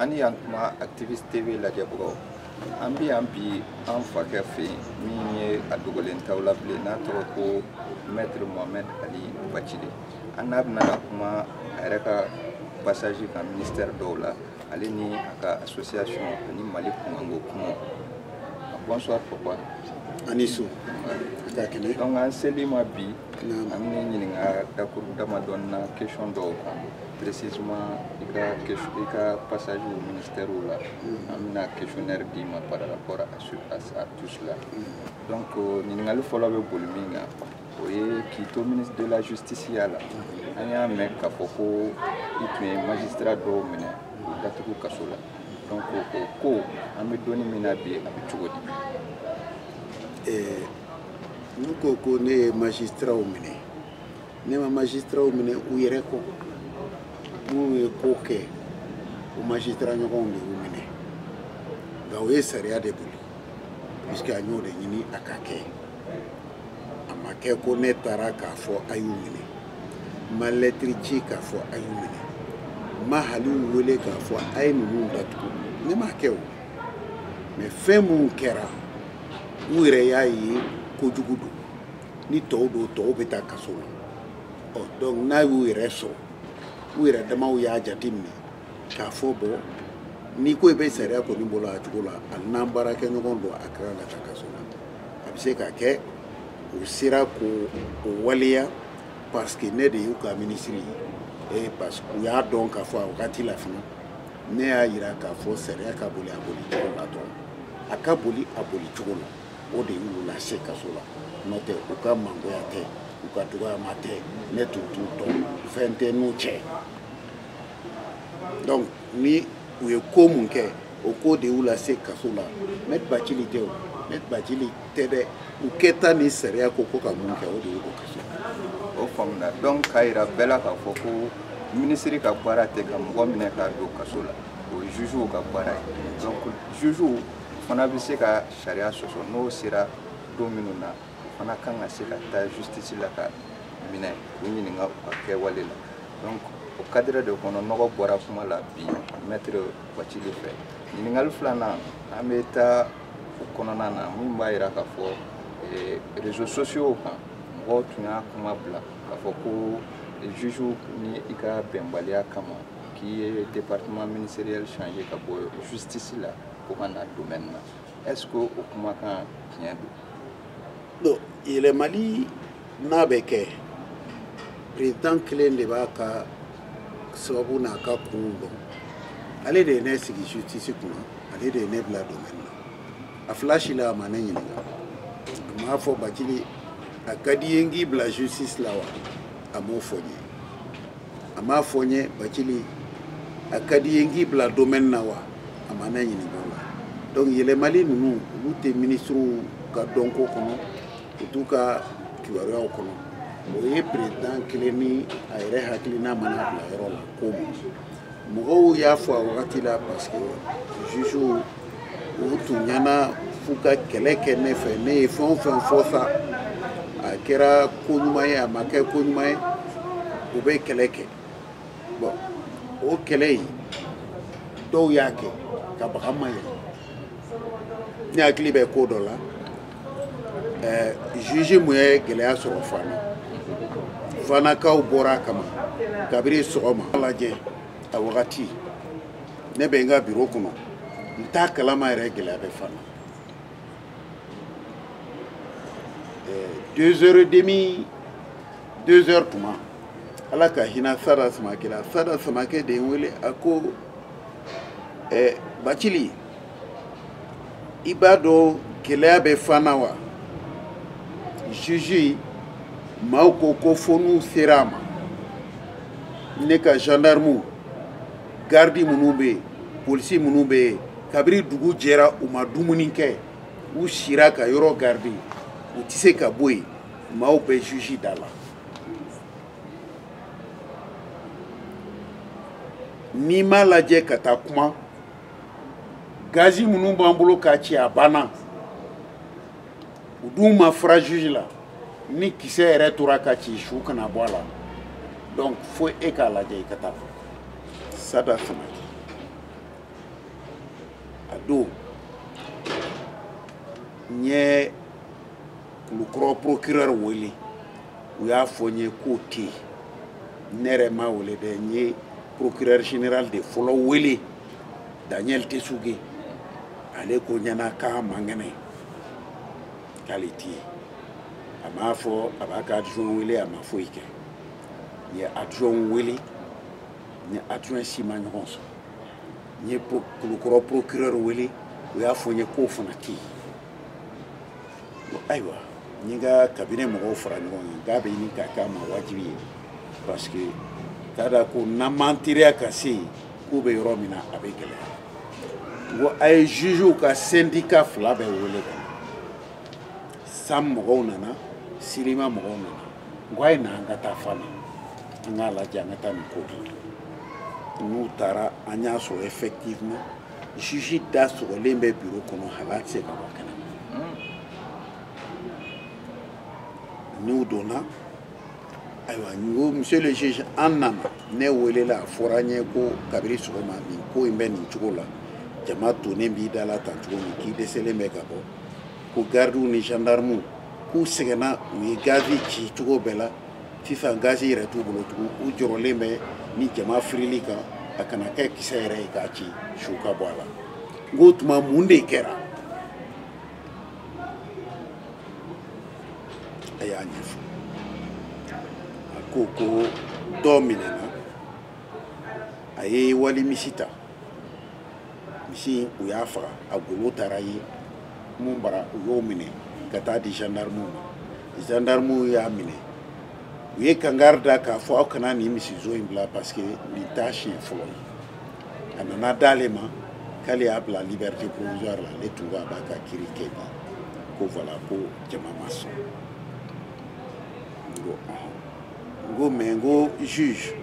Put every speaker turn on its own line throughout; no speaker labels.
ani yan kuma activiste tv lajɛbagaw an bɛ yan bi an fakɛ fɛ yen min ye a dogolen t'aw la bilen n'a tɔgɔ ko maître mohamed ali bathily an n'a bɛna ka kuma a yɛrɛ ka passage kan ministère dɔw la ale ni a ka association ani mali kunkanko kumaw bonsoir papa a ni su
ka kɛnɛ
donc an sel'i ma bi an b'i ɲininka dakuru damadɔn na question dɔw kan précisément i ka i ka passage au ministère la an bɛna questionnaire d'i ma par rapport à, ce, à, à tout cela donc euh, ɲininkali fɔlɔ bɛ boli min kan o ye k'i to ministre de la justice ya la an y'a mɛn k'a fɔ ko i tun ye magistrat dɔw minɛ k'u datugu kaso la donc o ko an bɛ donni min na bi a bɛ cogo di
n'u ko ko ne ye magistratw minɛ ne ma magistratw minɛ u yɛrɛ kɔ minnu ye ko kɛ o magistrat ɲɔgɔnw de y'u minɛ nka o ye sariya de boli puisque an y'o de ɲini a ka kɛ a ma kɛ ko ne taara k'a fɔ a y'u minɛ n ma lɛtiri ci k'a fɔ a y'u minɛ n ma hali u wele k'a fɔ a ye ninnu datugu ne m'a kɛ o mais fɛn minnu kɛra u yɛrɛ y'a ye kojugu don ni tɔw don tɔw bɛ taa kaso la ɔ donc n'a y'u yɛrɛ sɔrɔ u yɛrɛ damaw y'a jate minɛ k'a fɔ bon n'i ko i bɛ sariya kɔni boli a cogo la hali n'an baarakɛ ɲɔgɔn don a kɛra la ka kaso la a bɛ se ka kɛ u sera k'o waleya parce que ne de y'u ka minisiri ye parce que u y'a dɔn k'a fɔ a wagati la fana ne y'a yira k'a fɔ sariya ka boli a boli cogo la dɔrɔn a ka boli a boli cogo la o de y'u lase kaso la n'o tɛ u ka mangoya tɛ u ka dɔgɔyama tɛ ne tun t'u dɔn fɛn tɛ n'u cɛ donc ni u ye ko min kɛ o ko de y'u lase kaso la maître bathily tɛ o maître bathily tɛ dɛ u kɛta ni sariya ko ko ka min kɛ o de y'u kaso o
faamuna donc k'a yira bɛɛ la k'a fɔ ko minisiri ka baara tɛ ka mɔgɔ minɛ k'a don kaso la o ye jugew ka baara ye donc jugew fana bɛ se ka sariya sɔsɔ n'o sera don min na o fana kan ka se ka taa justice la ka minɛ k'u ɲininka u ka kɛwale la donc o kadire de kɔnɔ nɔgɔ bɔra kuma la bi maître bathily fɛ ɲininkali filanan an bɛ taa o kɔnɔna na min b'a yira k'a fɔ eh, réseaux sociaux kan mɔgɔw tun y'a kuma bila k'a fɔ ko juge ni i ka bɛnbaliya kama k'i ye département ministériel changer ka bɔ justice la ko ka na domaine na est ce que o kumakan tiɲɛ don? Bon,
yɛlɛmali n'a bɛ kɛ perezidan kelen de b'a ka sababu n'a ka kunw dɔn ale de ye ne sigi justice kunna ale de ye ne bila domaine na a fila si la a ma ne ɲininka a m'a fɔ bacili a ka d'i ye n k'i bila justice la wa a m'o fɔ n ye a m'a fɔ n ye bacili a ka d'i ye n k'i bila domaine na wa a ma ne ɲininka o la donc yɛlɛmali ninnu olu tɛ ministrew ka dɔnko kɔnɔ u t'u ka kibaruyaw kɔnɔ o ye perezidan kelen ni a yɛrɛ hakilina mana bila yɔrɔ la ko ma mɔgɔw y'a fɔ a wagati la parce que jugew u tun ɲɛna f'u ka kɛlɛ kɛ ne fɛ ne ye fɛn o fɛn fɔ sa a kɛra ko ɲuman ye a ma kɛ ko ɲuman ye u bɛ kɛlɛ kɛ bon o kɛlɛ in dɔw y'a kɛ ka baga n ma yɛrɛ ne hakili bɛ ko dɔ la ɛɛ juge mun ye gɛlɛya sɔrɔ fana fanakaw bɔra a kama kabiri sɔgɔma lajɛ a wagati ne bɛ n ka biro kɔnɔ n t'a kalama yɛrɛ gɛlɛya bɛ fana deux heures et demi deux heures tuma ala ka hinɛ sada samakɛ la sada samakɛ de ye n wele a ko ɛ bacili i b'a dɔn gɛlɛya bɛ fana wa juge maaw ko ko fo n'u sera a ma ne ka gendarmew garidi minnu bɛ yen polisi minnu bɛ yen kabiri dugu jɛra u ma dumuni kɛ u sira ka yɔrɔ garidi u tɛ se ka bɔ yen maaw bɛ juge da la n'i m'a lajɛ ka taa kuma gazi minnu b'an bolo k'a ci a banna u dun ma fara juge la ni kisɛ yɛrɛ tora ka ci su kana bɔ a la donc fo e k'a lajɛ i ka taa sada samakɛ a don n ye kulukɔrɔ procureur wele u y'a fɔ n ye k'o tɛ yen ne yɛrɛ m'a wele dɛ n ye procureur général de fɔlɔ wele daniel tesuge ale ko n ɲɛna k'a man kɛnɛ k'ale tɛ yen a m'a fɔ a b'a ka adjoint wele a ma foyi kɛ n ye adjoint wele n ye adjoint si ma ɲɔgɔn sɔrɔ n ye kulukɔrɔ procureur wele u y'a fɔ n ye k'o fana tɛ yen ayiwa n ye n ka cabinet mɔgɔw fara ɲɔgɔn kan k'a bɛ ɲini ka k'an ma wajibi ye parce que k'a da ko n'an m'an teriya ka se yen k'u bɛ yɔrɔ min na a bɛ gɛlɛya n ko a ye jugew ka syndicat fila bɛɛ wele ka na sam mɔgɔw nana sylima mɔgɔw nana n ko a ye na an ka taa fana an k'a lajɛ an ka taa nin ko kɛ n'u taara an y'a sɔrɔ effectivement juge da sɔgɔlen bɛ bureau kɔnɔ hali a tɛ se ka bɔ kɛnɛ n'u donna ayiwa n ko monsieur le juge an nana ne welela a fɔra n ye ko kabiri sɔgɔma nin ko in bɛ nin cogo la jama tonnen b'i da la tan cogo min k'i dɛsɛlen bɛ ka bɔ ko gardiw ni gendarmew k'u sɛgɛnna u ye gazi ci cogo bɛɛ la sisan gazi yɛrɛ t'u bolo tugun u jɔrɔlen bɛ ni jama firil'i kan a kana kɛ kisɛ yɛrɛ ye k'a ci su ka bɔ a la n k'o tuma mun de kɛra a y'a ɲɛfɔ a ko ko dɔ minɛna a ye wali misi ta misi u y'a faga a golo taara ye mun bara u y'o minɛ ka taa di gendarmew ma gendarmew y'a minɛ u ye kangari da k'a fɔ aw kana nin misizon in bila parce que nin t'a siɲɛ fɔlɔ ye a nana d'ale ma k'ale y'a bila liberté provisoire la ale tun ko a b'a ka kiri kɛ bi ko voilà ko jama ma sɔn n ko n ko mais n ko juge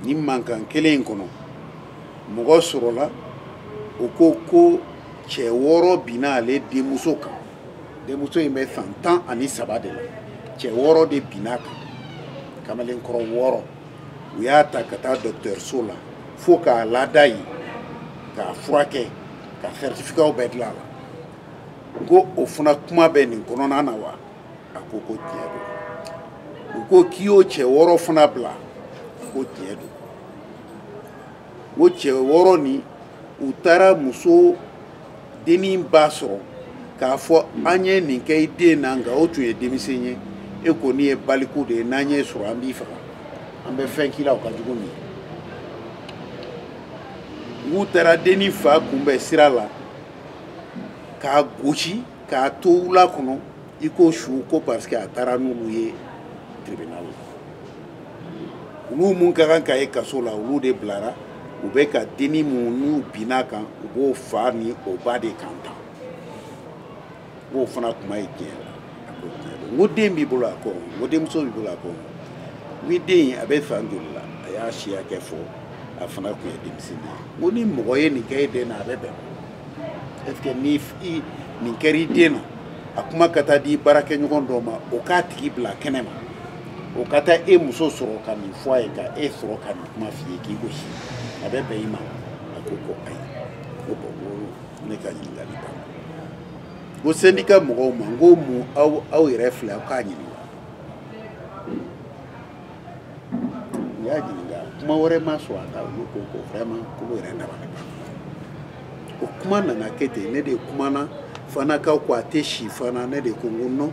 nin mankan kelen in kɔnɔ mɔgɔ sɔrɔla o ko ko cɛ wɔɔrɔ binna ale denmuso kan denmuso in bɛ san tan ani saba de la cɛ wɔɔrɔ de binna a kan kamalenkɔrɔ wɔɔrɔ u y'a ta ka taa dɔgɔtɔrɔso la fo k'a lada yen k'a furakɛ ka certificatw bɛɛ dilan a la ko o fana kuma bɛ nin kɔnɔna na wa a ko ko tiɲɛ don u ko k'i y'o cɛ wɔɔrɔ fana bila a ko tiɲɛ don o cɛ wɔɔrɔ nin u taara muso dennin ba sɔrɔ k'a fɔ an ye nin kɛ i den na nka o tun ye denmisɛn ye e kɔni ye baliku de ye n'an y'e sɔrɔ an b'i faga an bɛ fɛn k'i la o ka jugu nin ye u taara dennin fa kunbɛn sira la k'a gosi k'a to wula kɔnɔ iko su ko parce que a taara n'olu ye tribunal la olu mun ka kan ka ye kaso la olu de bilara u bɛ ka dennin mun n'u binna kan u b'o fa ni o ba de kan tan n k'o fana kuma ye tiɲɛ la a ko tiɲɛ don n ko den b'i bolo a ko n ko denmuso b'i bolo a ko ni den in a bɛ san joli la a y'a si hakɛ fɔ a fana tun ye denmisɛnnin ye n ko ni mɔgɔ ye nin kɛ e den na a bɛ bɛn est ce que ni nin kɛra i den na a kuma ka taa di baarakɛɲɔgɔn dɔ ma o k'a tigi bila kɛnɛ ma o ka taa e muso sɔrɔ ka nin fɔ a ye ka e sɔrɔ ka nin kuma f'i ye k'i gosi a bɛ bɛn i ma a ko ko ayi ko bon ko ne ka ɲininkali banna ko syndicat mɔgɔw ma n ko mun aw aw yɛrɛ filɛ aw k'a ɲininka u y'a ɲininka kuma wɛrɛ ma sɔn a kan olu ko ko vraiment k'olu yɛrɛ dabali banna o kuma nana kɛ ten ne de kumana fanakaw ko a tɛ si fana ne de ko n ko non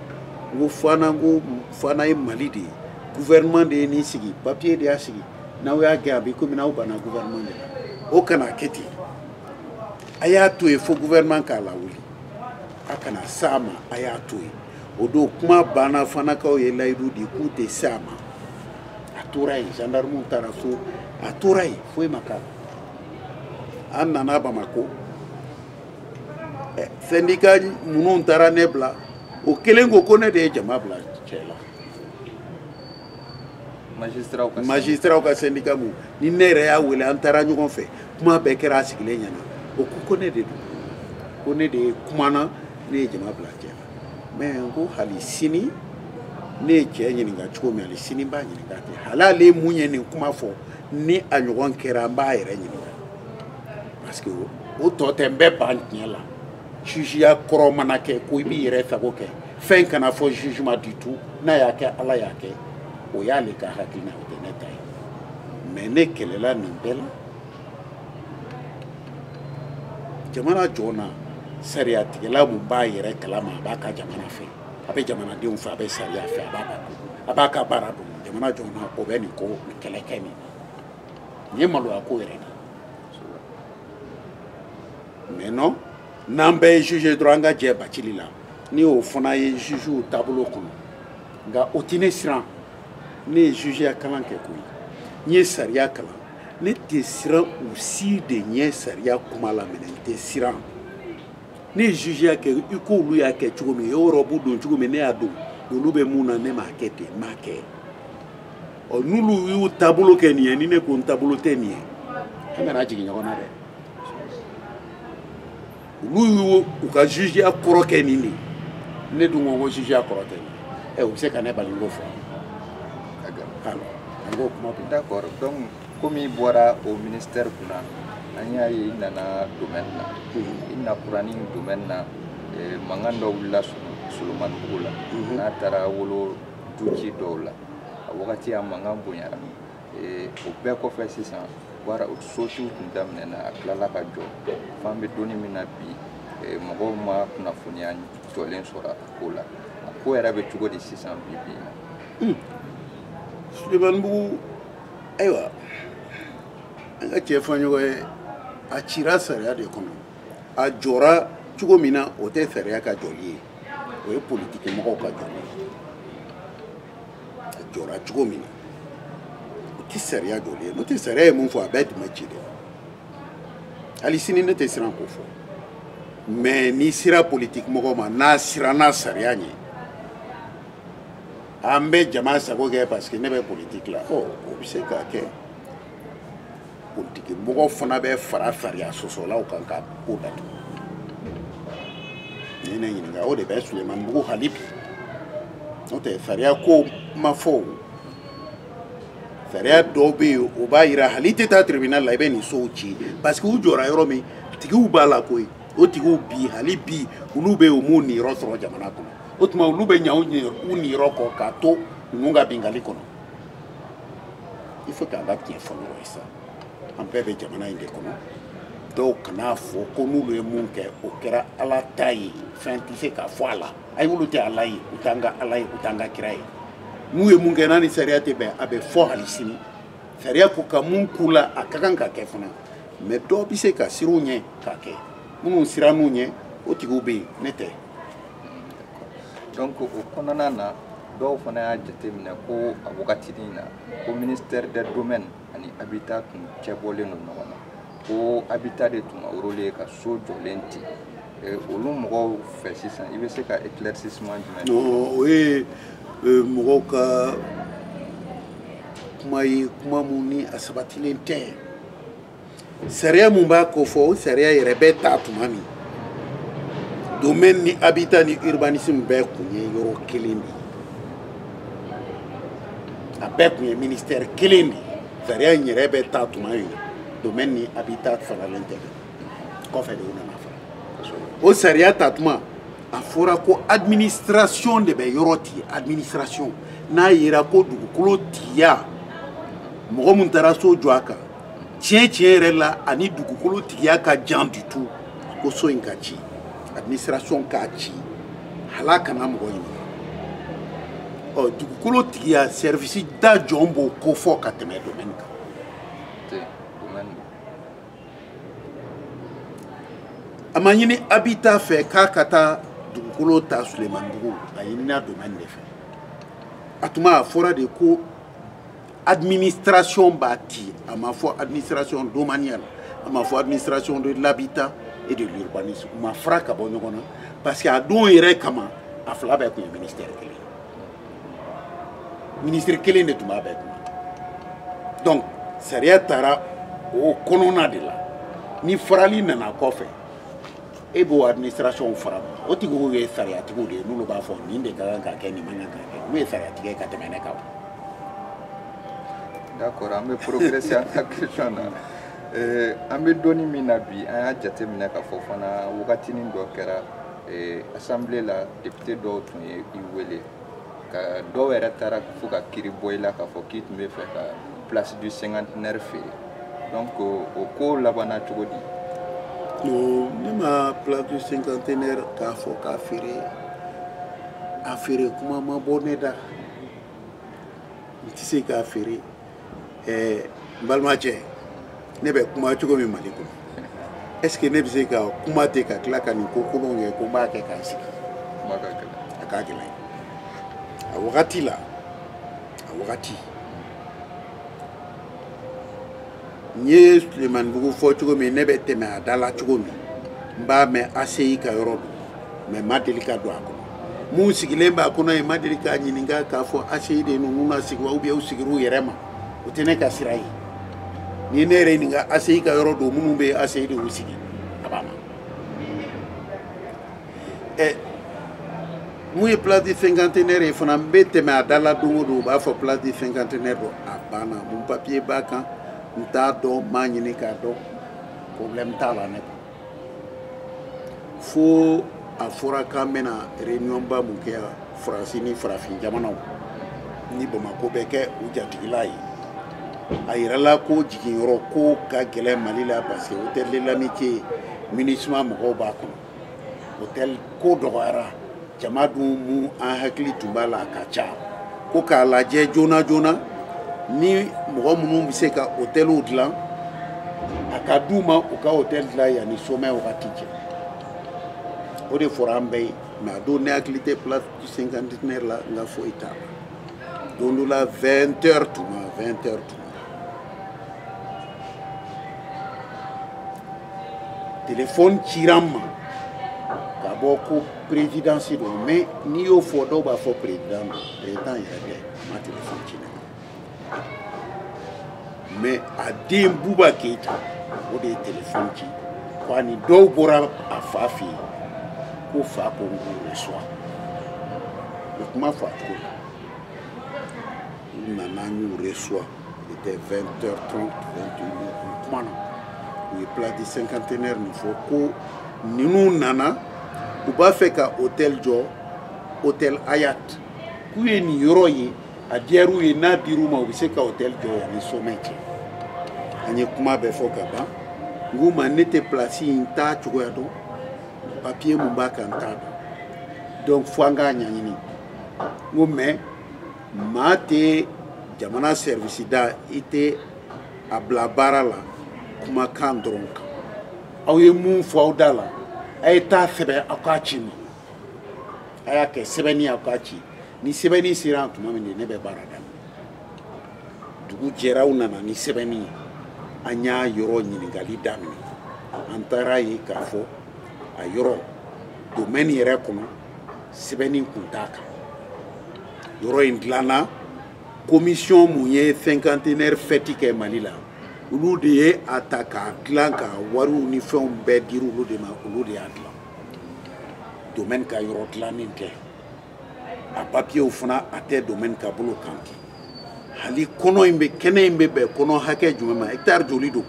n ko fana n ko fana ye mali de ye gouvernement de ye nin sigi papier de y'a sigi n'aw y'a gɛn a bɛ komi n'aw banna gouvernement de la o kana kɛ ten a y'a to yen fo gouvernement k'a lawuli a kana s'a ma a y'a to yen o don kuma banna fanakaw ye layidu di k'u tɛ se a ma a tora yen gendarmew taara so a tora yen foyi ma k'a la an nana bamako syndicat minnu taara ne bila o kelen ko ko ne de ye jama bila cɛ la magistratw ka syndicat mu ni ne yɛrɛ y'a wele an taara ɲɔgɔn fɛ kuma bɛɛ kɛra a sigilen ɲɛ na o ko ko ne de don ko ne de ye kumana ne ye jama bila cɛ mais n ko hali sini ne ye cɛ ɲininka cogo min hali sini n b'a ɲininka ten hali ale mun ye nin kuma fɔ ni a ɲɔgɔn kɛra n b'a yɛrɛ ɲininka parce que o tɔ tɛ n bɛ ban tiɲɛ la jugeya kɔrɔ mana kɛ ko i b'i yɛrɛ sago kɛ fɛn kana fɔ jugement du tout n'a y'a kɛ ala y'a kɛ o y'ale ka hakilina o tɛ ne ta ye mais ne kɛlɛla nin bɛɛ la jamana jɔn na sariyatigɛla mun b'a yɛrɛ kalama a b'a ka jamana fɛ a bɛ jamanadenw fɛ a bɛ sariya fɛ a b'a ka a b'a ka baara dɔn jamana jɔn na o bɛ nin ko nin kɛlɛ kɛ nin nin ye maloya ko yɛrɛ de mais non n'an bɛɛ ye juge dɔrɔn an ka jɛ bacili la ni o fana ye jugew taabolo kɔnɔ nka o tɛ ne siran ne ye jugeya kalan kɛ koyi n ye sariya kalan ne tɛ siran u si de ɲɛ sariya kuma laminɛ n tɛ siran ne ye jugeya kɛ i ko olu y'a kɛ cogo min u ye rɔbu don cogo min ne y'a don olu bɛ mun na ne m'a kɛ ten n m'a kɛ ɔ n'olu y'u taabolo kɛ nin ye ni ne ko n taabolo tɛ nin ye an kana jigin ɲɔgɔn na dɛ olu y'u ka jugeya kɔrɔ kɛ nin de ne dun ko ko jugeya kɔrɔ tɛ nin ye u bɛ se ka ne bali n k'o fɔ an
k'o kuma bi d'accord donc komi i bɔra o ministère kunna an y'a ye i nana domaine na i nakuranin domaine na mankan dɔ wulila solomanibugu la n'a taara wolo duci dɔw la a wagati a mankan bonyara o bɛɛ kɔfɛ sisan baara sotiw tun daminɛna a tilala ka jɔ f'an bɛ don in min na bi mɔgɔw ma kunnafoniya jɔlen sɔrɔ a ko la a ko yɛrɛ bɛ cogo di sisan bi bi in na
sulemanibugu ayiwa an ka tiɲɛ fɔ ɲɔgɔn ye a cira sariya de kɔnɔ a jɔra cogo min na o tɛ sariya ka jɔli ye o ye politikimɔgɔw ka jɔli ye a jɔra cogo min na o tɛ sariya jɔli ye n'o tɛ sariya ye mun fɔ a bɛɛ tun bɛ ci dɛ hali sini ne tɛ siran k'o fɔ mais n'i sera politiki mɔgɔ ma n'a siranna sariya ɲɛ an bɛ jama sago kɛ parce que ne bɛ politiki la ɔ o bɛ se ka kɛ politiki mɔgɔ fana bɛ fara sariya sɔsɔlaw kan ka ko datugu n'i ye ne ɲininka o de bɛ sulemanibugu hali bi n'o tɛ sariya ko ma fɔ o sariya dɔw bɛ yen o b'a yira hal'i tɛ taa tribunal la i bɛ nin sow ci parce que u jɔra yɔrɔ min tigiw b'a la koyi o tigiw bi hali bi olu bɛ yen u m'u niyɔrɔ sɔrɔ jamana kɔnɔ o tuma olu bɛ ɲa u niyɔrɔ kɔ k'a to ninnu ka binkanni kɔnɔ il faut k'an ka tiɲɛ fɔ ɲɔgɔn ye sa an bɛɛ bɛ jamana in de kɔnɔ dɔw kan'a fɔ ko n'olu ye mun kɛ o kɛra ala ta ye fɛn tɛ se ka fɔ a la ayi olu tɛ ala ye u t'an ka ala ye u t'an ka kira ye n'u ye mun kɛ n'a ni sariya tɛ bɛn a bɛ fɔ hali sini sariya ko ka mun k'u la a ka kan ka kɛ fana mais dɔw bɛ se ka siran u ɲɛ k'a kɛ minnu siranna u ɲɛ o tigiw bɛ yen ne tɛ
donc o kɔnɔna na dɔw fana y'a jateminɛ ko a wagatinin na ko ministère des domaines ani habitat tun cɛbɔlen don ɲɔgɔn na ko habitat de tun ka rôle ye ka so jɔlen ti olu mɔgɔw fɛ sisan i bɛ se ka éclaircissement jumɛn o
ye mɔgɔw ka kuma ye kuma min ni a sabatilen tɛ sariya mun b'a ko fɔ o sariya yɛrɛ bɛ ta tuma min domaine ni habitat ni urbanisme bɛɛ kun ye yɔrɔ kelen de a bɛɛ kun ye ministère kelen de sariya in yɛrɛ bɛ ta tuma min domaine ni habitat faralen tɛ kɔfɛ de u nana fara o sariya ta tuma a fɔra ko administration de bɛ yɔrɔ ti administration n'a yera ko dugukolo tigiya mɔgɔ min taara so jɔ a kan tiɲɛ tiɲɛ yɛrɛ la a ni dugukolo tigiya ka jan du tout ko so in ka ci administration k'a ci hal'a kana mɔgɔ ɲini ɔ dugukolo tigiya sɛrivisi da jɔn b'o ko fɔ ka tɛmɛ domaine kan a ma ɲini habitat fɛ k'a ka taa dugukolo ta sulemanibugu a ɲinina domaine de fɛ a tuma a fɔra de ko administration b'a ti a ma fɔ administration domaniale a ma fɔ administration de l'habitat et de l'urbanisme u ma fara ka bɔ ɲɔgɔn na parce que a don yɛrɛ kama a fila bɛɛ tun ye ministère kelen ministre kelen de tun b'a bɛɛ kunna donc sariya taara o kɔnɔna de la ni farali nana kɔfɛ e b'o administration fara o tigiw ye sariyatigiw de ye n'olu b'a fɔ nin de ka kan ka kɛ nin man kan ka kɛ n'u ye sariya tigɛ ka tɛmɛ ne
kan d'accord an bɛ progresser an ka question na eh, an bɛ don min na bi an y'a jateminɛ k'a fɔ fana wagatinin dɔ kɛra eh, assemblée la député dɔw tun ye i wele ka dɔw yɛrɛ taara fo ka kiri bɔ i la k'a fɔ k'i tun bɛ fɛ ka place du cinquantenaire feere donc o ko labanna cogo di non ne ma
place du cinquantenaire k'a fɔ k'a feere a feere kuma ma bɔ ne da n tɛ se k'a feere ɛɛ n balimacɛ ne bɛ kuma cogo min mali kɔnɔ est ce que ne bɛ se ka kuma ten ka tila ka nin ko kolonw kɛ ko n b'a kɛ k'a sigi a ka gɛlɛn a wagati la a wagati n ye sulemanibugu fɔ cogo min ne bɛ tɛmɛ a da la cogo min n b'a mɛn ACI ka yɔrɔ don mais n ma deli ka don a kɔnɔ mun sigilen b'a kɔnɔ yen n ma deli k'a ɲininka k'a fɔ ACI de ninnu na sigi wa ou bien u sigir'u yɛrɛ ma o tɛ ne ka sira ye n'i ye ne yɛrɛ ɲininka ACI ka yɔrɔ don minnu bɛ ACI de y'u sigi a b'a ma ɛ mun ye place du cinquantenaire ye fana n bɛ tɛmɛ a da la don o don u b'a fɔ place du cinquantenaire don a banna mun papier b'a kan n t'a dɔn n m'a ɲini k'a dɔn problème t'a la ne kan fo a fɔra k'an bɛna réunionba mun kɛ yan faransi ni farafin jamanaw ni bamako bɛ kɛ u jatigila ye a yirala ko jiginyɔrɔ ko ka gɛlɛn mali la parce que hôtel de l'amitié minusma mɔgɔw b'a kɔnɔ hôtel ko dɔgɔyara jama dun mun an hakili tun b'a la a ka ca ko k'a lajɛ joona joona ni mɔgɔ minnu bɛ se ka hôtelw dilan a ka d'u ma u ka hôtel dilan yanni sommet wagati cɛ o de fɔra an bɛɛ ye mais a don ne hakili tɛ place du cinquantenaire la n ka foyi t'a la don dɔ la 20 heures tuma 20 heures tuma téléphone cira n ma ka bɔ ko présidence don mais n'i y'o fɔ dɔw b'a fɔ président don président yɛrɛ tɛ a ma téléphone ci ne ma mais a den buba keyita o de ye téléphone ci ko ani dɔw bɔra a fa fɛ yen ko fa ko n k'u reçoit o kuma fɔ a cogo la u nana n y'u reçoit Il était 20h30, 21h, kuma na. U ye place du cinquantenaire nin fɔ ko ninnu nana u b'a fɛ ka hôtel jɔ hôtel Hayat k'u ye nin yɔrɔ ye a diyar'u ye n'a dir'u ma u bɛ se ka hôtel jɔ yanni sommet cɛ. An ye kuma bɛɛ fɔ ka ban. N k'u ma ne tɛ plasi in ta cogoya dɔn papiye mun b'a kan n t'a dɔn donc fo an k'a ɲɛɲini n ko mais maa tɛ jamana sɛrivisi da i tɛ a bila baara la kumakan dɔrɔn kan aw ye mun fɔ aw da la a ye taa sɛbɛn aw k'a ci n ma a y'a kɛ sɛbɛnni aw k'a ci ni sɛbɛnni sera yan tuma min de ne bɛ baara daminɛ dugu jɛra u nana ni sɛbɛnni ye an y'a yɔrɔ ɲininkali daminɛ an taar'a ye k'a fɔ a yɔrɔ domɛni yɛrɛ kɔnɔ sɛbɛnni kun t'a kan yɔrɔ in dilanna komisiyɔn mun ye sɛnkantenɛri fɛti kɛ mali la olu de ye a ta k'a dilan ka wariw ni fɛnw bɛɛ dira olu de ma olu de y'a dilan domɛni ka yɔrɔ dilannen tɛ a papiyew fana a tɛ domɛni ka bolo kan ten hali kɔnɔ in bɛ kɛnɛ in bɛ bɛn kɔnɔ hakɛ jumɛn ma hɛkitari joli don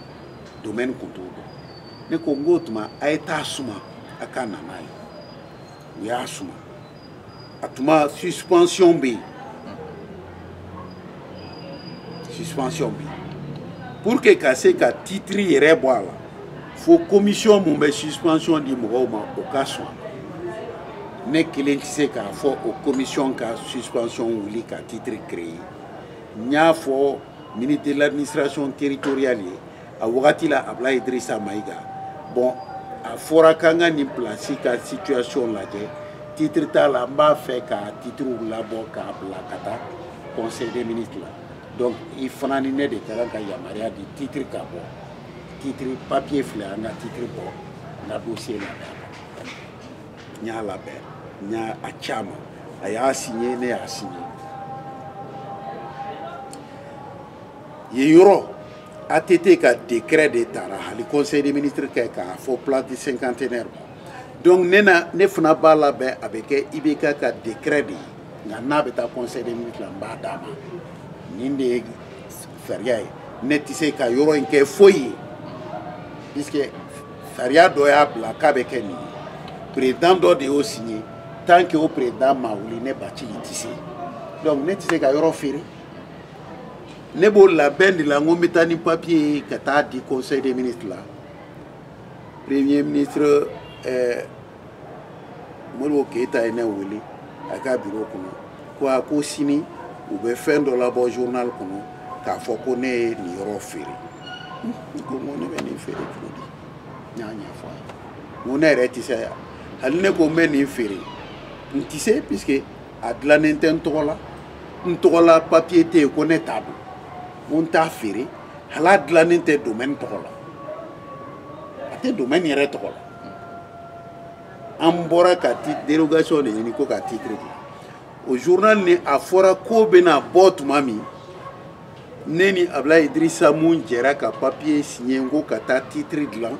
domɛni kun t'o dɔn ne ko n k'o tuma a ye t'a suma a ka na n'a ye u y'a suma a tuma suspension bɛ yen suspension bɛ yen pour que ka se ka titre yɛrɛ bɔ a la fo commission mun bɛ suspension di mɔgɔw ma o ka sɔn ne kelen tɛ se k'a fɔ o commission ka suspension wuli ka titre créer n y'a fɔ ministre de l'administration territoriale ye a wagati la ablaye idrissa mayiga bon a fɔra k'an ka nin pilasi ka situation lajɛ titre t'a la n b'a fɛ ka titre labɔ k'a bila ka taa conseil des ministres la donc i fana ni ne de ka kan ka yamaruya di titre ka bɔ titre papier filɛ an ka titre bɔ n ka dossier labɛn n y'a labɛn n y'a ci a ma a y'a signé ne y'a signé yen yɔrɔ ATT ka décret de tara hali conseil des ministres kɛ k'a fɔ place du cinquantenaire donc ne na ne fana b'a labɛn a bɛ kɛ IBK ka décret de ye nka n'a bɛ taa conseil des ministres la n b'a d'a ma nin de ye sariya ye ne tɛ se ka yɔrɔ in kɛ foyi ye puisque sariya dɔ y'a bila k'a bɛ kɛ nin ye président dɔ de y'o signé tant que o président ma wuli ne Bathily tɛ se donc ne tɛ se ka yɔrɔ feere. ne b'o labɛn de la n ko n bɛ taa ni papiye ye ka taa di conseil des ministres la premier ministre ɛɛ eh, Modibo Keyita ye ne wele a ka biro kɔnɔ ko a ko sini u bɛ fɛn dɔ labɔ journal kɔnɔ k'a fɔ ko ne ye nin yɔrɔ feere n ko n ko ne bɛ nin feere cogo di n y'a ɲɛfɔ a ye n ko ne yɛrɛ tɛ se hali ne ko n bɛ nin feere n tɛ se puisque a dilannen tɛ n tɔgɔ la n tɔgɔ la papiye tɛ yen ko ne t'a dɔn ko n t'a feere hali a dilannen tɛ domaine tɔgɔ la a tɛ domaine yɛrɛ tɔgɔ la an bɔra ka ti dérogation de ɲini ko ka titre di o journal ni a fɔra ko bɛna bɔ tuma min ne ni Ablaye Idrissa mun jɛra ka papiye signé ko ka taa titre dilan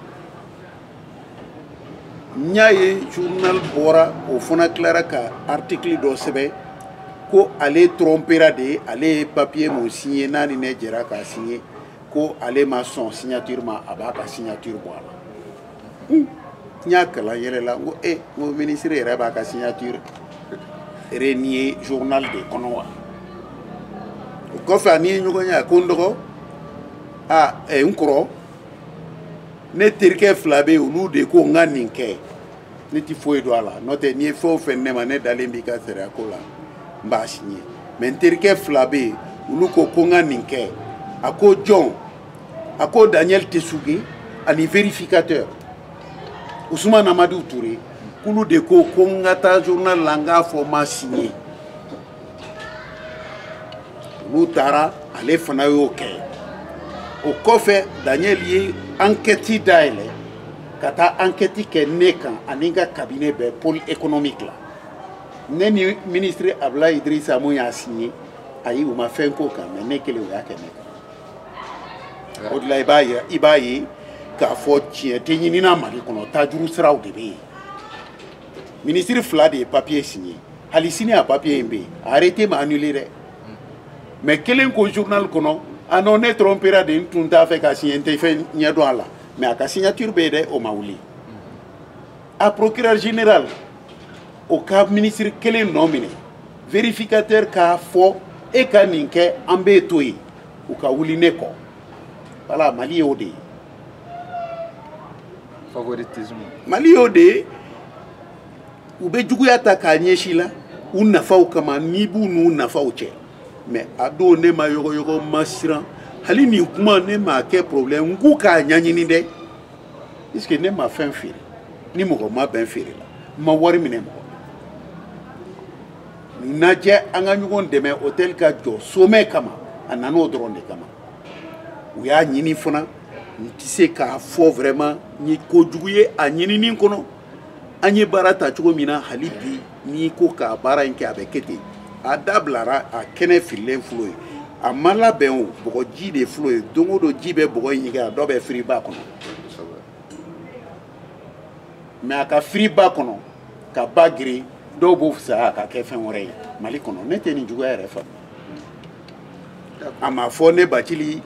n y'a ye journal bɔra o fana tilara ka article dɔ sɛbɛn ko ale trompera de ale ye papiye mun signé n'a ni ne jɛra k'a signé ko ale ma sɔn signature ma a b'a ka signature bɔ a la n y'a kalan yɛlɛla n ko e n ko ministre yɛrɛ b'a ka signature renier journal de kɔnɔ wa o kɔfɛ an ye ɲɔgɔn ye a ko n dɔgɔ a n kɔrɔ ne terikɛ fila bɛ yen olu de ko n ka nin kɛ ne tɛ foyi dɔn a la n'o tɛ n'i ye fɛn o fɛn ne ma ne dalen b'i ka sariya ko la n b'a signé mais n terikɛ fila bɛ yen olu ko ko n ka nin kɛ a ko jɔn a ko Daniel Tessougué ani vérificateur Ousmane Amadou Touré k'olu de ko ko n ka taa journal la n k'a fɔ n ma signé olu taara ale fana y'o kɛ o kɔfɛ Daniel ye enquête dayɛlɛ ka taa enquête kɛ ne kan ani n ka cabinet bɛɛ pôle économique la ne ni ministre Ablaye Idrissa mun y'a signé ayi u ma fɛn k'o kan mais ne kelen u y'a kɛ ne kan o de la i b'a ye i b'a ye k'a fɔ tiɲɛ tɛ ɲinina Mali kɔnɔ tajuru siraw de bɛ yen ministre fila de ye papiye signé hali sini a papiye in bɛ yen a arrêté ma annulé dɛ mais kelen ko journal kɔnɔ ah non ne trompera de n tun t'a fɛ ka signé n tɛ fɛn ɲɛ dɔn a la mais a ka signature bɛ yen dɛ o ma wuli a procureur général o ka ministre kelen nɔ minɛ vérificateur k'a fɔ e ka nin kɛ an b'e to yen u ka wuli ne kɔ voilà mali y'o de ye
favoritisme mali y'o de
ye u bɛ juguya ta k'a ɲɛsin la u nafaw kama n'i b'u n'u nafaw cɛ mais a don ne ma yɔgɔyɔgɔ ma siran hali nin kuma ne m'a kɛ problème n k'u k'a ɲɛɲini dɛ puisque ne ma fɛn feere ni mɔgɔ ma bɛn feere la n ma wari minɛ mɔgɔ najɛ an ka ɲɔgɔn dɛmɛ hôtel ka jɔ sommet kama a nan'o dɔrɔn de kama u y'a ɲini fana n tɛ se k'a fɔ vraiment n ye kojugu ye a ɲinini kɔnɔ an ye baara ta cogo min na hali bi n'i ko k'a baara in kɛ a bɛ kɛ ten a dabilara a kɛnɛ fililen fil'o ye a ma labɛn o bɔgɔ ji de fil'o ye don o don ji bɛ bɔgɔ in ɲigin a dɔ bɛ firi ba kɔnɔ mais a ka firi ba kɔnɔ ka ba girin dɔw b'o fisaya ka kɛ fɛn wɛrɛ ye mali kɔnɔ ne tɛ nin juguya yɛrɛ faamu a ma fɔ ne bathily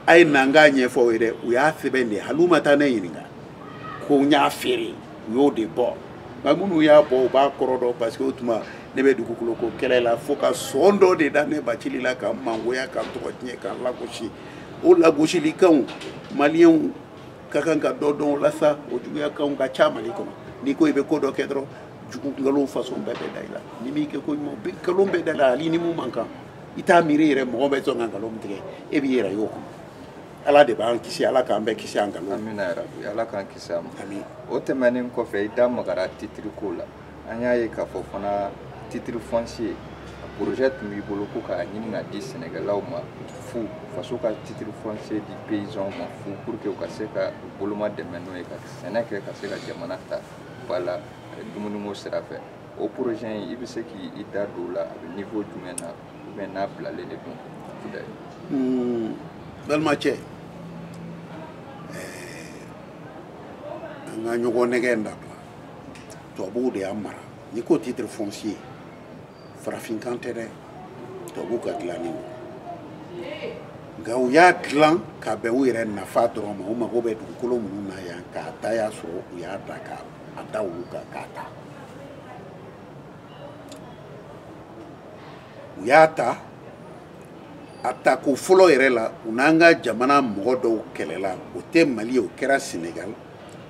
a ye na n k'a ɲɛfɔ aw ye dɛ u y'a sɛbɛn de hali u ma taa ne ɲininka ko n y'a feere u y'o de bɔ nka minnu y'a bɔ u b'a kɔrɔ dɔn parce que o tuma ne bɛ dugukolo ko kɛlɛ la fo ka sɔn dɔ de da ne bathily la ka mangoya ka tɔgɔ tiɲɛ ka lagosi o lagosilikanw maliyɛnw ka kan ka dɔ dɔn o la sa o juguyakanw ka ca mali kɔnɔ n'i ko i bɛ ko dɔ kɛ dɔrɔn jugu nkalon façon bɛɛ bɛ da i la ni m'i kɛ ko ɲuman bɛ nkalon bɛ da i la hali ni mun man kan i t'a miiri yɛrɛ mɔgɔ bɛ sɔn ka nkalon tigɛ e b'i yɛrɛ y'o kɔnɔ ala de b'an kisi ala k'an bɛɛ kisi an kanu amina yarabi ala
k'an kisi a ma ami o
tɛmɛnen
kɔfɛ i da magara titiri ko la an y'a ye k'a fɔ fana titre foncier projet tun b'i bolo ko k'a ɲini k'a di sɛnɛkɛlaw ma fu faso ka titre foncier di paysanw ma fu pour que u ka se ka u bolomadɛmɛ n'o ye ka sɛnɛ kɛ ka se ka jamana ta ba la dumuniko sira fɛ o projet in i bɛ se k'i da don o la a bɛ niveau jumɛn na ou bien n'a bilalen de
don kudayi hmm. balimacɛ an ka ɲɔgɔn nɛgɛn in dabila tubabuw de y'an mara n'i ko titre foncier farafinkan tɛ dɛ tubabuw ka dilannen don nka u y'a dilan ka bɛn u yɛrɛ nafa dɔrɔn ma u mago bɛ dugukolo minnu na yan k'a ta y'a sɔrɔ u y'a da k'a da olu kan k'a ta u y'a ta a tako fɔlɔ yɛrɛ la u n'an ka jamana mɔgɔ dɔw kɛlɛla o tɛ mali ye o kɛra senegal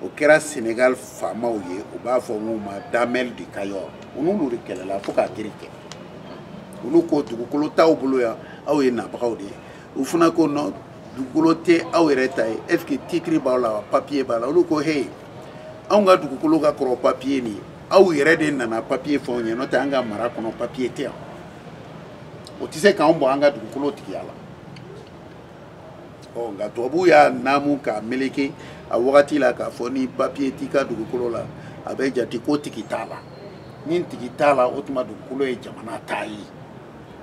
o kɛra senegal faamaw ye u b'a fɔ n'u ma damel du cayor u n'olu de kɛlɛla fo k'a kiri kɛ olu ko dugukolo t'aw bolo yan aw ye nabagaw de ye u fana ko non dugukolo tɛ aw yɛrɛ ta ye est ce que titiri b'aw la wa papiye b'a la olu ko heyi anw ka dugukolo ka kɔrɔ papiye nin ye aw yɛrɛ de nana papiye fɔ anw ye n'o tɛ an ka mara kɔnɔ papiye tɛ yan o tɛ se k'anw bɔ an ka dugukolo tigiya la ɔ nka tubabuw y'a naamu k'a meleke a wagati la k'a fɔ ni papiye t'i ka dugukolo la a bɛ jate ko tigi t'a la ni tigi t'a la o tuma dugukolo ye jamana ta ye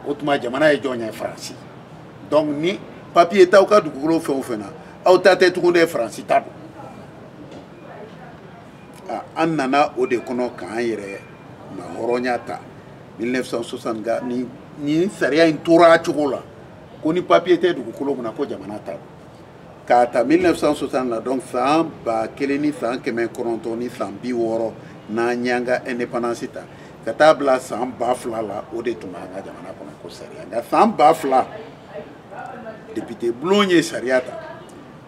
o tuma jamana ye jɔn ye faransi donc ni papiye t'aw ka dugukolo fɛn o fɛn na aw ta tɛ tugun dɛ faransi ta don an nana o de kɔnɔ k'an yɛrɛmahɔrɔnya ta 1960 nka nin sariya in tora a cogo la ko ni papiye tɛ dugukolo min na ko jamana ta don k'a ta 1960 la donc san ba kelen ni san kɛmɛ kɔnɔntɔn ni san bi wɔɔrɔ n'an y'an ka indépendance ta ka taa bila san ba fila la o de tun b'an ka jamana kɔnɔ ko sariya nka san ba fila député bulon ye sariya ta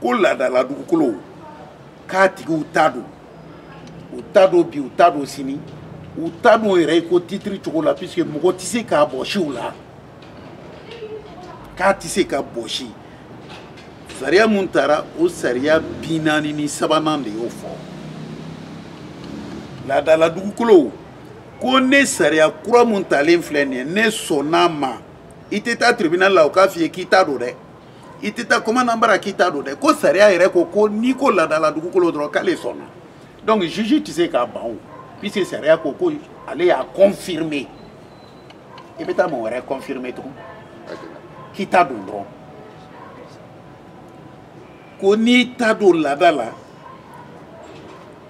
ko laadala dugukolow k'a tigiw ta don u ta don bi u ta don sini u ta don yɛrɛ i ko titiri cogo la puisque mɔgɔ tɛ se k'a bɔsi u la k'a tɛ se ka bɔsi sariya mun taara o sariya bi naani ni sabanan de y'o fɔ laadala dugukolow ko ne sariya kura mun talen filɛ nin ye ne sɔnn'a ma i tɛ taa tribunal la u k'a f'i ye k'i ta don dɛ i tɛ taa komandan bara k'i ta don dɛ ko sariya yɛrɛ ko ko n'i ko laadala dugukolo dɔrɔn k'ale sɔnna donc juge tɛ se ka ban o puisque sariya ko ko ale y'a confirmer i bɛ taa mɔgɔ wɛrɛ confirmer tugun k'i ta don dɔrɔn ko n'i ta don laada la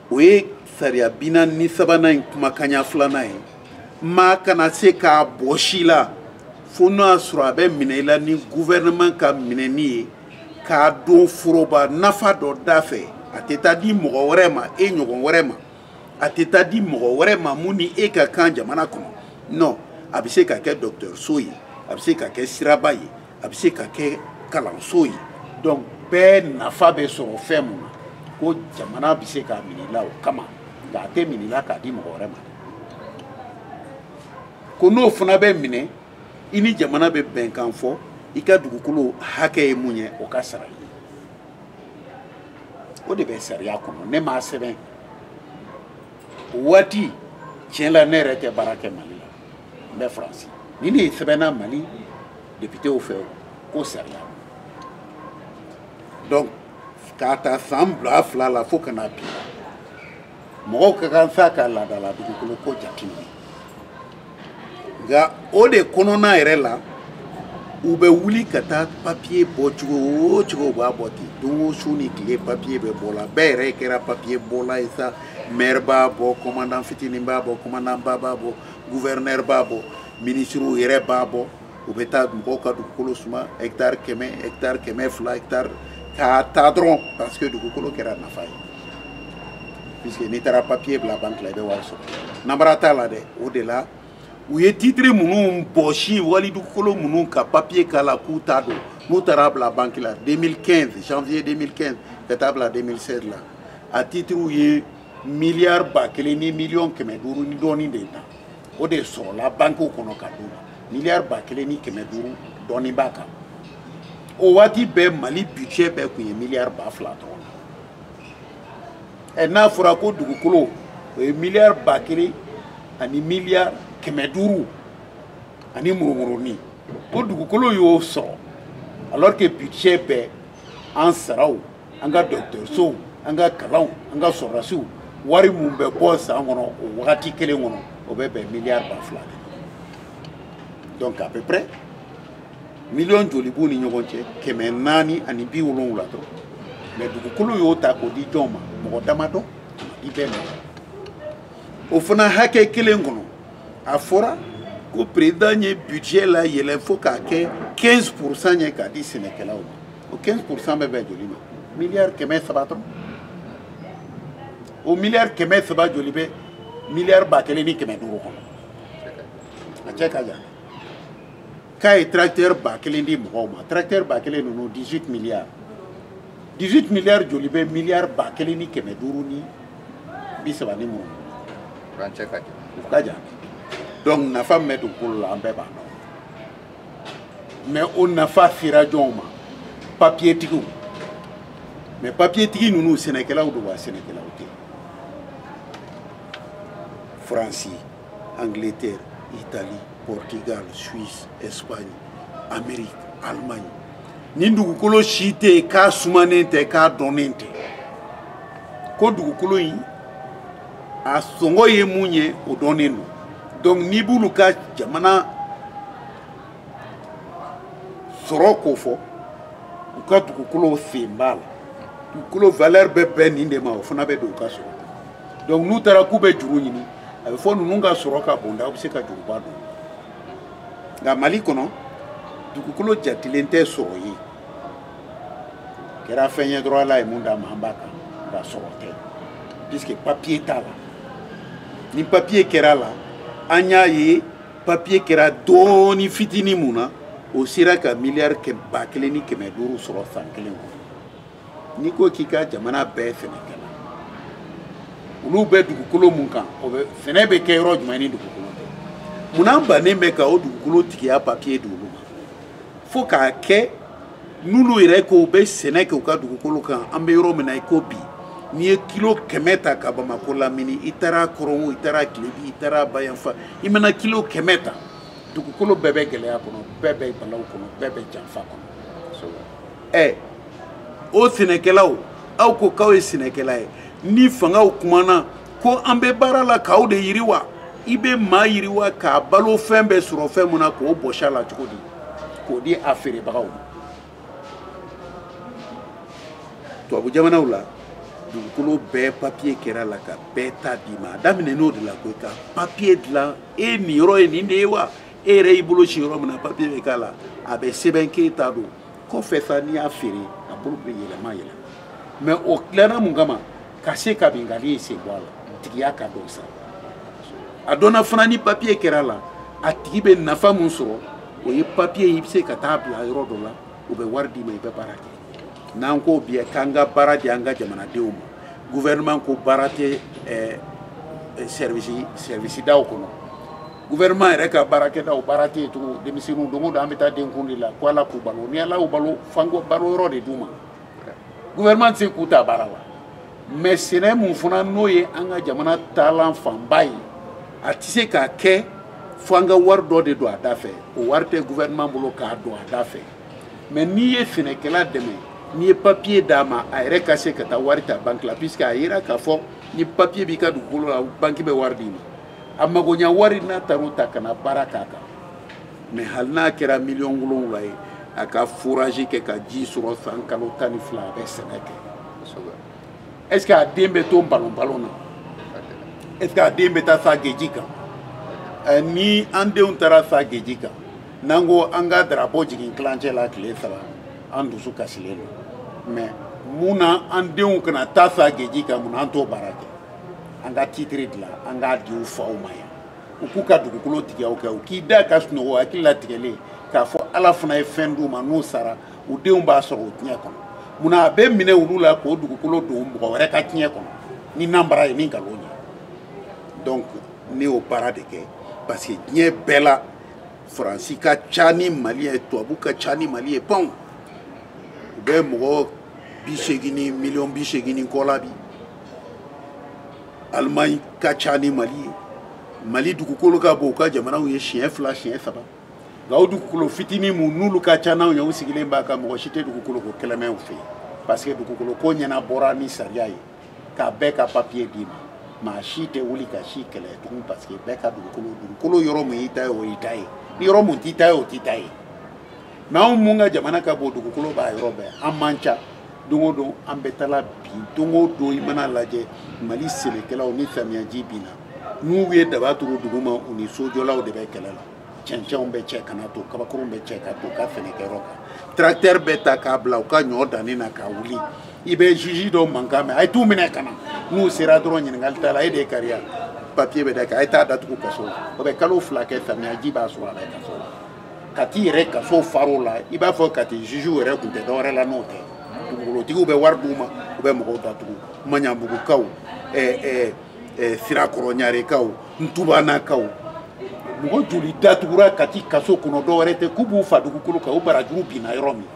o ye sariya bi naani ni sabanan in kumakanya filanan ye maa kana se k'a bɔsi i la fo n'o y'a sɔrɔ a bɛ minɛ i la ni gouvernement ka minɛni ye k'a don foroba nafa dɔ da fɛ a tɛ taa di mɔgɔ wɛrɛ ma e ɲɔgɔn wɛrɛ ma a tɛ taa di mɔgɔ wɛrɛ ma mun ni e ka kan jamana kɔnɔ non a bɛ se ka kɛ dɔgɔtɔrɔso ye a bɛ se ka kɛ siraba ye a bɛ se ka kɛ kalanso ye donc bɛɛ nafa bɛ sɔrɔ fɛn mun na ko jamana bɛ se k'a minɛ i la o kama nka a tɛ minɛ i la k'a di mɔgɔ wɛrɛ ma ko n'o fana bɛ minɛ i ni jamana bɛ bɛnkan fɔ i ka dugukolo hakɛ ye mun ye o ka sara i ye o de bɛ sariya kɔnɔ ne m'a sɛbɛn o waati tiɲɛ la ne yɛrɛ tɛ baara kɛ mali la n bɛ faransi ni nin sɛbɛnna mali député fɛ ko sariya donc k'a ta san ba fila la fo ka na bi mɔgɔw ka kan sa ka laadala dugukolo ko jateminɛ nka o de kɔnɔna yɛrɛ la u bɛ wuli ka taa papiye bɔ cogo o cogo u b'a bɔ ten don o su ni tile papiye bɛ bɔ la bɛɛ yɛrɛ kɛra papiye bɔla ye sa mɛri b'a bɔ kɔmandan fitinin b'a bɔ kɔmandanba b'a bɔ guvɛrinɛri b'a bɔ minisiriw yɛrɛ b'a bɔ u bɛ taa mɔgɔw ka dugukolo suma hectare kɛmɛ hectare kɛmɛ fila hectare k'a ta dɔrɔn parce que dugukolo kɛra nafa ye puisque n'i taara papier bila banque la i bɛ wari sɔrɔ namara t'a la dɛ o de la u ye titre minnu bɔsi wali dugukolo minnu ka papier k'a la k'u ta don n'u taara bila banque la 2015 janvier 2015 ka taa bila 2016 la a titriw ye miliyari ba kelen ni miliyɔn kɛmɛ duuru ni dɔɔnin de ta o de sɔrɔla bankew kɔnɔ ka d'u ma miliyari ba kelen ni kɛmɛ duuru dɔɔnin b'a kan o waati bɛɛ mali budget bɛɛ tun ye miliyari ba fila dɔrɔn ɛ n'a fɔra ko dugukolo o ye miliyari ba kelen ani miliyari kɛmɛ duuru ani murumurunin ko dugukolo y'o sɔrɔ alors que budget bɛɛ an saraw an ka dɔgɔtɔrɔsow an ka kalanw an ka sɔrɔdasiw wari min bɛ bɔ san kɔnɔ o wagati kelen kɔnɔ o bɛ bɛn miliyari ba fila de donc à peu près miliyɔn joli b'u ni ɲɔgɔn cɛ kɛmɛ naani ani bi wolonwula dɔrɔn mais dugukolo y'o ta k'o di jɔn ma mɔgɔ damadɔnin bɛɛ ma o fana hakɛ kelen kɔnɔ a fɔra ko perezidan ye budget layɛlɛ fo k'a kɛ 15 pourcent ye k'a di sɛnɛkɛlaw ma o 15 pourcent bɛ bɛn joli ma miliyari kɛmɛ saba dɔrɔn o miliyari kɛmɛ saba joli bɛ miliyari ba kelen ni kɛmɛ duuru kɔnɔ a cɛ ka jan k'a ye tracteur ba kelen di mɔgɔw ma tracteur ba kelen ninnu 18 miliyari 18 miliyari joli bɛ miliyari ba kelen ni kɛmɛ duuru ni bi saba ni mun
u ka jan
donc nafa min bɛ dugukolo la an bɛɛ b'a dɔn mɛ o nafa sera jɔnw ma papiyetigiw mɛ papiyetigi ninnu sɛnɛkɛlaw don wa sɛnɛkɛlaw tɛ faransi angleterre italie portugal suisse espagne amérique allemagne nin dugukolo si tɛ yen k'a sumanen tɛ k'a dɔnnen tɛ ko dugukolo in a sɔngɔ ye mun ye o dɔnnen don donc n'i b'olu ka jamana sɔrɔ ko fɔ u ka dugukolo sen b'a la dugukolo valeur bɛ bɛn nin de ma o fana bɛ don u ka sɔrɔ donc n'u taara k'u bɛ juru ɲini a bɛ fɔ ninnu ka sɔrɔ ka bon dɛ u bɛ se ka juruba don nka mali kɔnɔ dugukolo jatilen tɛ sɔrɔ ye kɛra fɛn ye dɔrɔn ala ye mun d'an ma an b'a kan nka sɔrɔ tɛ puisque papiye t'a la ni papiye kɛra la an y'a ye papiye kɛra dɔɔni fitinin mun na o sera ka miliyari ba kelen ni kɛmɛ duuru sɔrɔ san kelen kɔnɔ n'i ko k'i ka jamana bɛɛ sɛnɛkɛla olu bɛ dugukolo mun kan o bɛ sɛnɛ bɛ kɛ yɔrɔ jumɛn ni dugukolo tɛ munna an bannen bɛ ka o dugukolo tigiya papiye di olu ma fo k'a kɛ n'olu yɛrɛ ko u bɛ sɛnɛ kɛ u ka dugukolo kan an bɛ yɔrɔ min na i ko bi n'i ye kilo kɛmɛ ta ka bamakɔ lamini i taara kɔrɔn o i taara kilebi i taara bayanfan i mana kilo kɛmɛ ta dugukolo bɛɛ bɛ gɛlɛya kɔnɔ bɛɛ bɛ balawu kɔnɔ bɛɛ bɛ janfa kɔnɔ ɛ o sɛnɛkɛlaw aw ko k'aw ye sɛnɛkɛla ye ni fangaw kumana ko an bɛ baara la k'aw de yiriwa i bɛ maa yiriwa k'a balo fɛn bɛɛ sɔrɔ fɛn mun na k'o bɔsi a la cogo di k'o di a feerebagaw ma tubabu jamanaw la dugukolo bɛɛ papiye kɛra la ka bɛɛ ta d'i ma a daminɛn'o de la koyi ka papiye dilan e niyɔrɔ ye nin de ye wa e yɛrɛ y'i bolo sin yɔrɔ min na papiye bɛ k'a la a bɛ sɛbɛn k'e ta don kɔfɛ sa n'i y'a feere a bolo bɛ yɛlɛma yɛlɛma mɛ o dilanna mun kama ka se ka binkanni sen bɔ a la tigiya ka dɔn sa a dɔnna fana ni papiye kɛra la a tigi bɛ nafa mun sɔrɔ o ye papiye i bɛ se ka taa bila yɔrɔ dɔ la u bɛ wari d'i ma i bɛ baara kɛ n'an ko bi k'an ka baara di an ka jamanadenw ma gouvernement ko baara tɛ ɛɛ service service daw kɔnɔ gouvernement yɛrɛ ka baarakɛdaw baara tɛ yen tugun denmisɛnninw don o don an bɛ taa denkun de la ko ala k'u balo ni ala y'u balo f'an k'u balo yɔrɔ de d'u ma. gouvernement tɛ se k'u ta baara la mɛ sɛnɛ mun fana n'o ye an ka jamana taalan fanba ye a tɛ se k'a kɛ fo an ka wari dɔ de don a da fɛ o wari tɛ gouvernement bolo k'a don a da fɛ mɛ n'i ye sɛnɛkɛla dɛmɛ n'i ye papiye d'a ma a yɛrɛ ka se ka taa wari ta banki la puisque a yera k'a fɔ ni papiye b'i ka dugukolo la banki bɛ wari d'i ma a magoɲa wari n'a taar'o ta ka na baara k'a kan mais hali n'a kɛra miliyɔn wolonwula ye a ka forazi kɛ ka ji sɔrɔ san kalo tan ni fila a bɛ sɛnɛ kɛ est ce que a den bɛ to balon balon na est ce que a den bɛ taa sa geji kan eh, ni an denw taara sa geji kan n'an ko an ka darapo jigin tilancɛ la tile saba an dusu kasilen don mais mun na an denw kana taa sa geji kan mun na an t'o baara kɛ an ka titiri dilan an k'a di u faw ma yan u k'u ka dugukolo tigiya kɛ u k'i da ka sunɔgɔ hakili latigɛlen k'a fɔ ala fana ye fɛn d'u ma n'u sara u denw b'a sɔrɔ o tiɲɛ kɔnɔ munna a bɛ minɛ olu la k'o dugukolo don mɔgɔ wɛrɛ ka tiɲɛ kɔnɔ ni nanbara ye ni nkalon ye donc ne y'o baara de kɛ parce que diɲɛ bɛɛ la faransi ka ca ni mali ye tubabu ka ca ni mali ye bon u bɛ mɔgɔ bi seegin ni miliyɔn bi seegin ni kɔ la bi alimaɲi ka ca ni mali ye mali dugukolo ka bon n'u ka jamanaw ye siɲɛ fila siɲɛ saba nka o dugukolo fitinin mun olu ka ca n'anw ye u sigilen b'a kan mɔgɔ si tɛ dugukolo ko kɛlɛ mɛn u fɛ yen parce que dugukolo ko ɲɛnabɔra ni sariya ye ka bɛɛ ka papiye d'i ma maa si tɛ wuli ka si kɛlɛ tugun parce que bɛɛ ka dugukolo dugukolo yɔrɔ mun y'i ta ye o y'i ta ye ni yɔrɔ mun t'i ta ye o t'i ta ye mais anw mun ka jamana ka bon dugukolo b'a yɔrɔ bɛɛ an man ca don o don an bɛ taala bi don o don i mana lajɛ mali sɛnɛkɛlaw ni samiyaji binna n'u ye daba turu duguma u ni sojɔlaw de bɛ kɛlɛ la cɛncɛnw bɛ cɛ ka na ton kabakurunw bɛ cɛ ka ton u ka sɛnɛkɛyɔrɔ kan tracteur bɛ ta k'a bila u ka ɲɔ danni na k'a wuli i bɛ juge dɔ mankan mɛn a ye t'u minɛ ka na n'u sera dɔrɔn ɲininkali t'a la e de ye kari ye papiye bɛ d'a kan a ye t'a datugu kaso la o bɛ kalo fila kɛ samiyaji b'a sɔrɔ a la kaso la kati yɛrɛ kaso far'o la i b'a fɔ kati jugew yɛrɛ kun tɛ dɔwɛrɛ la n'o tɛ dugukolotigiw bɛ wari d'u ma u bɛ mɔgɔw datugu maɲabugukaw sirakɔrɔɲarekaw ntubanakaw mɔgɔ joli datugura kati kaso kɔnɔ dɔwɛrɛ tɛ k'u b'u fa dugukolo kan u barajuru binna yɔrɔ min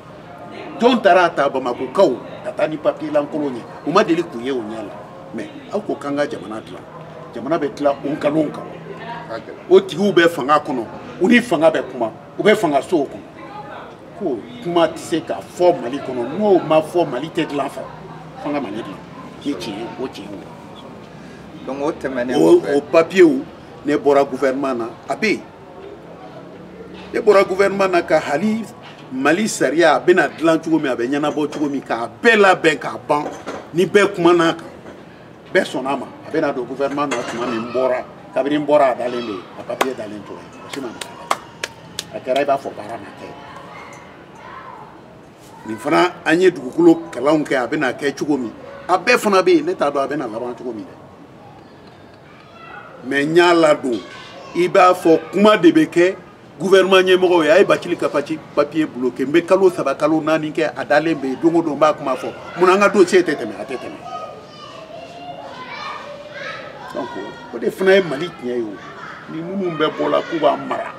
jɔn taara a ta bamakokaw ka taa ni papiye lankolon ye u ma deli k'o ye u ɲɛ la mais aw ko k'an ka jamana dilan jamana bɛ dilan o nkalonw kan o tigiw bɛ fanga kɔnɔ u ni fanga bɛ kuma u bɛ fanga sow kɔnɔ ko kuma tɛ se ka fɔ mali kɔnɔ n'o ma fɔ mali tɛ dilan fa f'an ka mali dilan ni tiɲɛ ye o tiɲɛ ye donc o tɛmɛnen
o papiyew
ne bɔra gouvernement na a bɛ yen e bɔra gouvernement na ka hali mali sariya a bɛna dilan cogo min a bɛ ɲɛnabɔ cogo min k'a bɛɛ labɛn k'a ban ni bɛɛ kumana a kan bɛɛ sɔnna a ma a bɛna don gouvernement na tuma min n bɔra kabini n bɔra a dalen bɛ yen a papiye dalen tora yen mɔgɔ si ma nafa a la a kɛra i b'a fɔ baara ma kɛ nin fana an ye dugukolo kalanw kɛ a bɛna kɛ cogo min a bɛɛ fana bɛ yen ne t'a dɔn a bɛna laban cogo min dɛ mais n y'a ladon i b'a fɔ kuma de bɛ kɛ gouvernement ɲɛmɔgɔw ye a ye bacili ka paci papiye bloke n bɛ kalo saba kalo naani kɛ a dalen bɛ yen don o don n b'a kuma fɔ mun an ka dossier tɛ tɛmɛ a tɛ tɛmɛ donc o de fana ye mali tiɲɛ ye o ni minnu bɛ bɔ la k'u b'a mara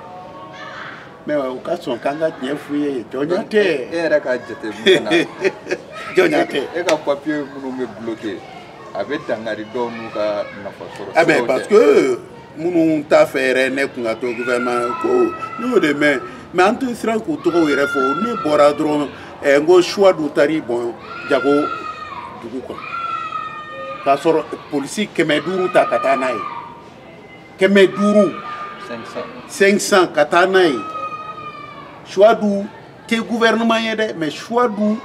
mais u ka sɔn k'an ka tiɲɛ f'u ye jɔnya tɛ e yɛrɛ ka
jateminɛ na jɔnya
tɛ e ka papiye minnu
bɛ bloke a bɛ dangari dɔw n'u ka nafa sɔrɔ ah ben parce
que minnu t'a fɛ yɛrɛ ne kun ka to gouvernement ko ne y'o de mɛn mais an tɛ siran k'u tɔgɔw yɛrɛ fɔ ne bɔra dɔrɔn eh, n ko suwadu taar'i bɔn jago dugu kan ka sɔrɔ polisi kɛmɛ duuru ta ka taa n'a ye kɛmɛ duuru 500 ka taa n'a ye suwadu tɛ gouvernement ye dɛ mais suwadu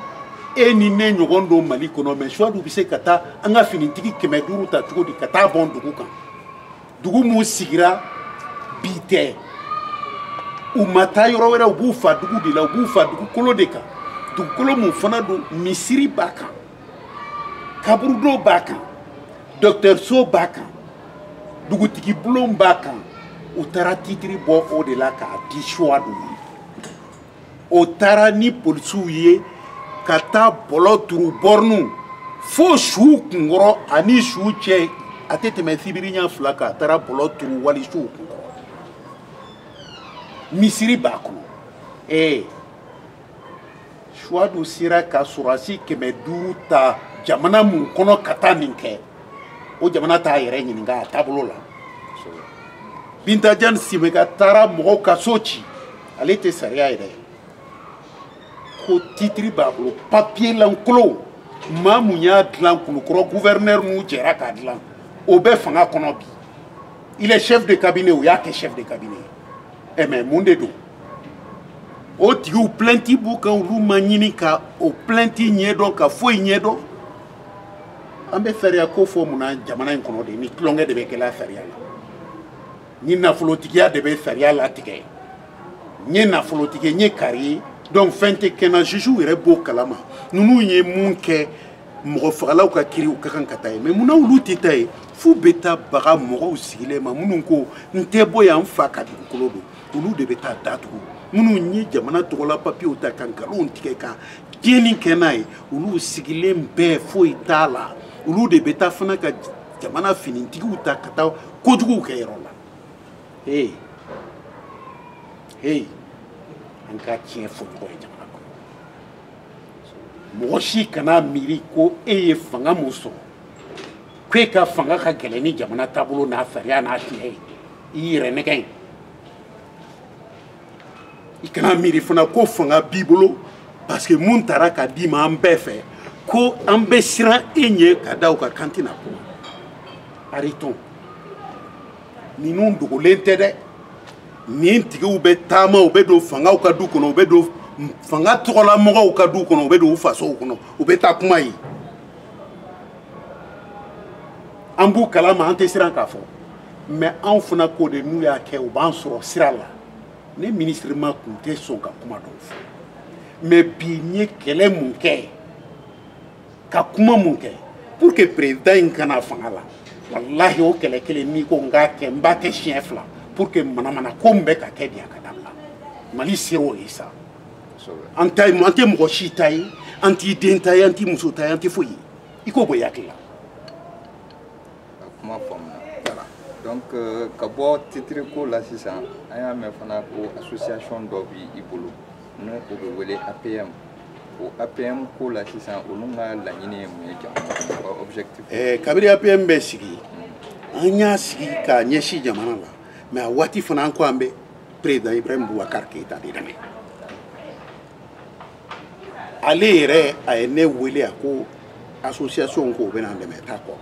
e ni ne ɲɔgɔn don mali kɔnɔ mais suwadu bɛ se ka taa an ka finitigi kɛmɛ duuru ta cogo di ka taa bɔn dugu kan dugu mun sigira bi tɛ u ma taa yɔrɔ wɛrɛ u b'u fa dugu de la u b'u fa dugukolo de kan dugukolo mun fana don misiri b'a kan kaburudo b'a kan dɔkitɛriso b'a kan dugutigi bulon b'a kan u taara titiri bɔ o de la k'a di suwadu ma o taara ni polisiw ye ka taa bɔlɔ turu bɔriniw fo suw kunkɔrɔ ani suw cɛ a tɛ tɛmɛ sibiriɲɛ fila kan a taara bɔlɔ turu wali suw kunkɔrɔ misiri b'a kɔnɔ ee suwadu sera ka sɔrɔdasi kɛmɛ duuru ta jamana mun kɔnɔ ka taa nin kɛ o jamana t'a yɛrɛ ɲininka a taabolo la binta jane semega taara mɔgɔw ka so ci ale tɛ sariya ye dɛ ko titiri b'a bolo papiye lankolon maa mun y'a dilan kulukɔrɔ guvɛrinɛri n'u jɛra k'a dilan o bɛ fanga kɔnɔ bi il est chef de cabinet o y'a kɛ chef de cabinet ɛ eh, mais mun de don o tigiw plainte b'u kan olu ma ɲini ka o plainte ɲɛdɔn ka foyi ɲɛdɔn an bɛ sariya ko fɔ mun na jamana in kɔnɔ de ni tulonkɛ de bɛ kɛla sariya la ni nafolotigiya de bɛ sariya latigɛ n ye nafolotigi ye n ye kari ye donc fɛn tɛ kɛ n na juge yɛrɛ b'o kalama ninnu ye mun kɛ mɔgɔ fagalaw ka kiri u ka kan ka taa yen mais munna olu tɛ taa yen f'u bɛ taa baga mɔgɔw sigilen ma minnu ko n tɛ bɔ yan n fa ka dugukolo don olu de bɛ taa datugu minnu ye jamana tɔgɔla papiyew ta ka nkalonw tigɛ ka tiɲɛni kɛ n'a ye olu sigilen bɛ foyi t'a la olu de bɛ taa fana ka jamana finitigiw ta ka taa kojuguw kɛ yɔrɔ la ee ee an ka tiɲɛ fɔ ɲɔgɔn ye jamana mɔgɔ si kana miiri ko e ye fanga mun sɔrɔ ko e ka fanga ka gɛlɛn ni jamana taabolo n'a sariya n'a tiɲɛ ye i yɛrɛ nɛgɛn ye i kana miiri fana ko fanga b'i bolo parce que mun taara ka d'i ma an bɛɛ fɛ ko an bɛ siran e ɲɛ ka da u ka k'an tɛna kuma arrêtons ninnu dogolen tɛ dɛ nin tigiw bɛ taama u bɛ don fangaw ka du kɔnɔ u bɛ don fanga tɔgɔlamɔgɔw ka du kɔnɔ u bɛ don u fasow kɔnɔ u bɛ taa kuma ye an b'u kalama an tɛ siran k'a fɔ mais anw fana k'o de n'u y'a kɛ u b'an sɔrɔ sira la ne ministre ma kun tɛ sɔn ka kuma dɔw fɔ mais bi n ye kɛlɛ mun kɛ ka kuma mun kɛ pour que président in ka na fanga la walahi o kɛlɛ kelen n'i ko n k'a kɛ n b'a kɛ siɲɛ fila pour que manamana ko min bɛ ka kɛ bi a ka dabila mali sera o ye sa an tɛ mɔgɔ si ta ye an t'i den ta ye an t'i muso ta ye an tɛ foyi ye i k'o bɔ i hakili la
kuma faamuna voilà donc euh, ka bɔ titre ko la sisan an y'a mɛn fana ko association dɔ bi i bolo ni o bɛ wele apm o apm ko la sisan olu ka laɲini ye mun ye jamana kɔnɔ objectif eh, kabiri apm
bɛ sigi an y'a sigi k'a ɲɛsin jamana la mais a waati fana an ko an bɛ président ibrahim boubacar keyita de dɛmɛ ale yɛrɛ a ye ne wele a ko association ko o bɛna an dɛmɛ t'a kɔ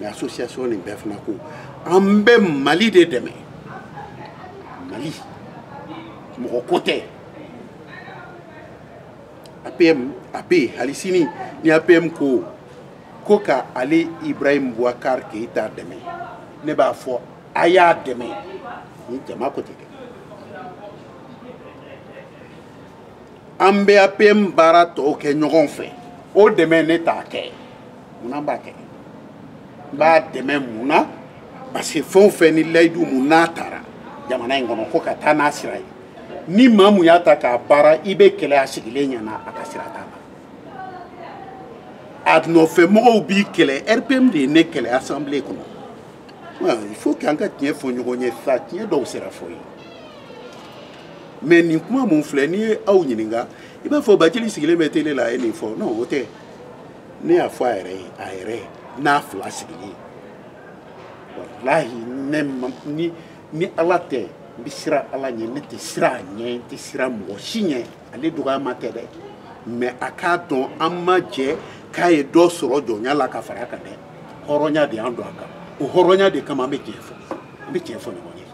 mais association nin bɛɛ fana ko an bɛ mali de dɛmɛ mali mɔgɔ ko tɛ APM a bɛ yen hali sini ni APM ko ko ka ale Ibrahim Boubacar Keita dɛmɛ ne b'a fɔ a y'a dɛmɛ ni jama ko tɛ kɛ an bɛ APM baara tɔw kɛ ɲɔgɔn fɛ o dɛmɛ ne t'a kɛ munna n b'a kɛ n b'a dɛmɛ mun na parce que fɛn o fɛn ni layidu mun n'a taara jamana in kɔnɔ ko ka taa n'a sira ye ni maa mun y'a ta k'a baara i bɛ kɛlɛ a sigilen ɲɛ na a ka sira t'a la a nɔfɛmɔgɔw b'i kɛlɛ rpm de ye ne kɛlɛ assemblée kɔnɔ il faut que an ka tiɲɛ fɔ ɲɔgɔn ye sa tiɲɛ dɔw sera fɔ ye mais nin kuma mun filɛ n'i ye aw ɲininka i b'a fɔ bathily sigilen bɛ télé la a ye nin fɔ non o tɛ ne y'a fɔ a yɛrɛ ye a yɛrɛ n'a fila sigilen walahi ne ni ni ala tɛ n bɛ siran ala ɲɛ ne tɛ siran a ɲɛ n tɛ siran mɔgɔ si ɲɛ ale dɔgɔyama tɛ dɛ mais a k'a dɔn an ma jɛ k'a ye dɔ sɔrɔ jɔnya la ka fara a kan dɛ hɔrɔnya de y'an don a kan o hɔrɔnya de kama an bɛ tiɲɛ fɔ an bɛ tiɲɛ fɔ ɲɔgɔn ye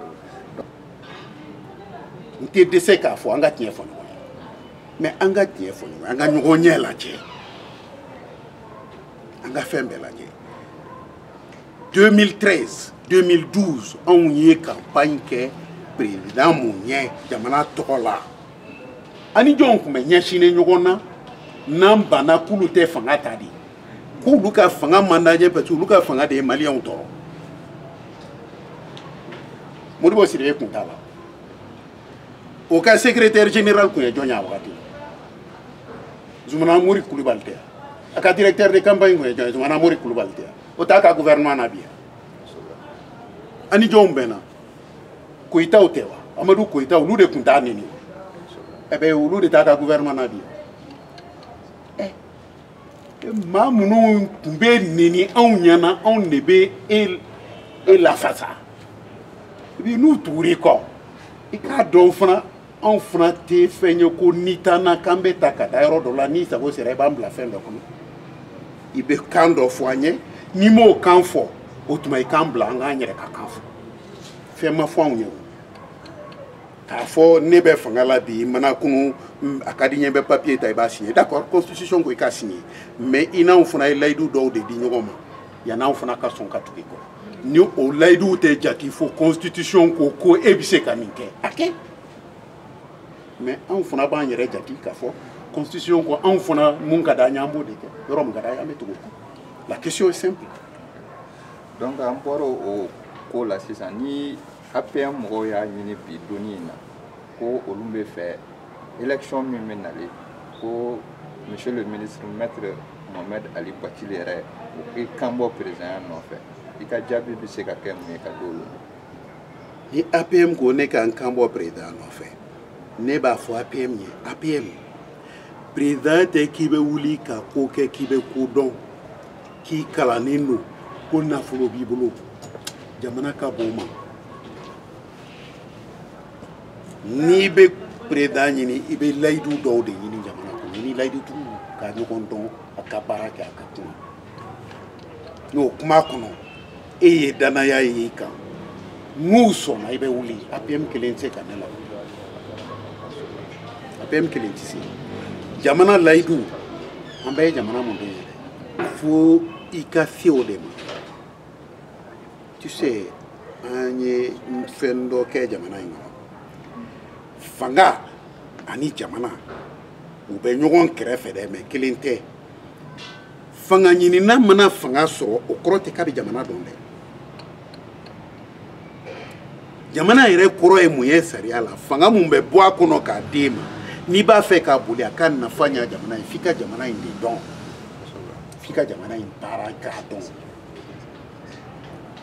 n tɛ dɛsɛ k'a fɔ an ka tiɲɛ fɔ ɲɔgɔn ye mais an ka tiɲɛ fɔ ɲɔgɔn ye an ka ɲɔgɔn ɲɛ lajɛ an ka fɛn bɛɛ lajɛ 2013 2012 anw ye campagne kɛ président mun ye jamana tɔgɔ la a ni jɔnw tun bɛ ɲɛsinnen ɲɔgɔn na n'an banna k'olu tɛ fanga ta de k'olu ka fanga man d'an ye parce que olu ka fanga de ye maliyɛnw tɔɔrɔ modibo sidibe tun t'a la o ka secrétaire général tun ye jɔn ye a wagati zumana mori kulubali tɛ a ka directeur de campagne tun ye jɔn ye zumana mori kulubali tɛ o t'a ka gouvernement na bi a ni jɔnw bɛnna koyitaw tɛ wa amadu koyita olu de tun t'a neni ɛbɛ olu de t'a ka gouvernement na bi maa minnu tun b'i neni anw ɲɛna anw de bɛ e e lafasa bi n'u tugur'i kɔ i k'a dɔn fana anw fana tɛ fɛn ye ko n'i taa na k'an bɛ ta ka taa yɔrɔ dɔ la n'i sago sera i b'an bila fɛn dɔ kɔnɔ i bɛ kan dɔ fɔ an ye n'i m'o kan fɔ o tuma i k'an bila an k'an yɛrɛ ka kan fɔ fɛn ma fɔ anw ye k'a fɔ ne bɛ fanga la bi mana kunu a ka di n ye bɛ papier ta i b'a signé d'accord constitution ko i ka signé mais i n'anw fana ye layidu dɔw de di ɲɔgɔn ma yan'anw fana ka sɔn ka tugu i kɔ ni o layiduw tɛ jati fo constitution ko e bɛ se ka min kɛ a kɛ mais anw fana b'an yɛrɛ jati k'a fɔ constitution ko anw fana mun ka d'an ye an b'o de kɛ yɔrɔ mun ka d'an ye an bɛ tugu o kɔ la question est simple
donc an bɔra o ko la sisan ni APM mɔgɔw y'a ɲini bi don in na ko olu bɛ fɛ élection min bɛ nalen ko monsieur le ministre maître Mohamed Ali Bathily yɛrɛ o k'i kanbɔ perezidanya nɔfɛ i ka jaabi bɛ se ka kɛ mun ye ka di olu ma
ni APM ko ne ka n kanbɔ perezidanya nɔfɛ ne b'a fɔ APM ye APM perezidanya tɛ k'i bɛ wuli ka ko kɛ k'i bɛ ko dɔn k'i kalannen don ko nafolo b'i bolo jamana ka bon mais n'i bɛ perezidan ɲini i bɛ layidu dɔw de ɲini jamana kɔnɔ i ni layidutigiw ka ɲɔgɔn dɔn a ka baara kɛ a ka kuma n'o kuma kɔnɔ e ye dannaya ye i kan n'u sɔnna i bɛ wuli apm kelen tɛ se ka ne la apm kelen tɛ se jamana layidu an bɛɛ ye jamana mun de ye fo i ka se o de ma tu sais an ye fɛn dɔ kɛ jamana in kɔnɔ fanga ani jamana u bɛ ɲɔgɔn kɛrɛfɛ dɛ mais kelen tɛ fanga ɲinina mana fanga sɔrɔ o kɔrɔ tɛ k'a bɛ jamana dɔn dɛ jamana yɛrɛ kɔrɔ ye mun ye sariya la fanga mun bɛ bɔ a kɔnɔ k'a d'e ma n'i b'a fɛ k'a boli a ka nafa ɲa jamana ye f'i ka jamana in de dɔn f'i ka jamana in baara k'a dɔn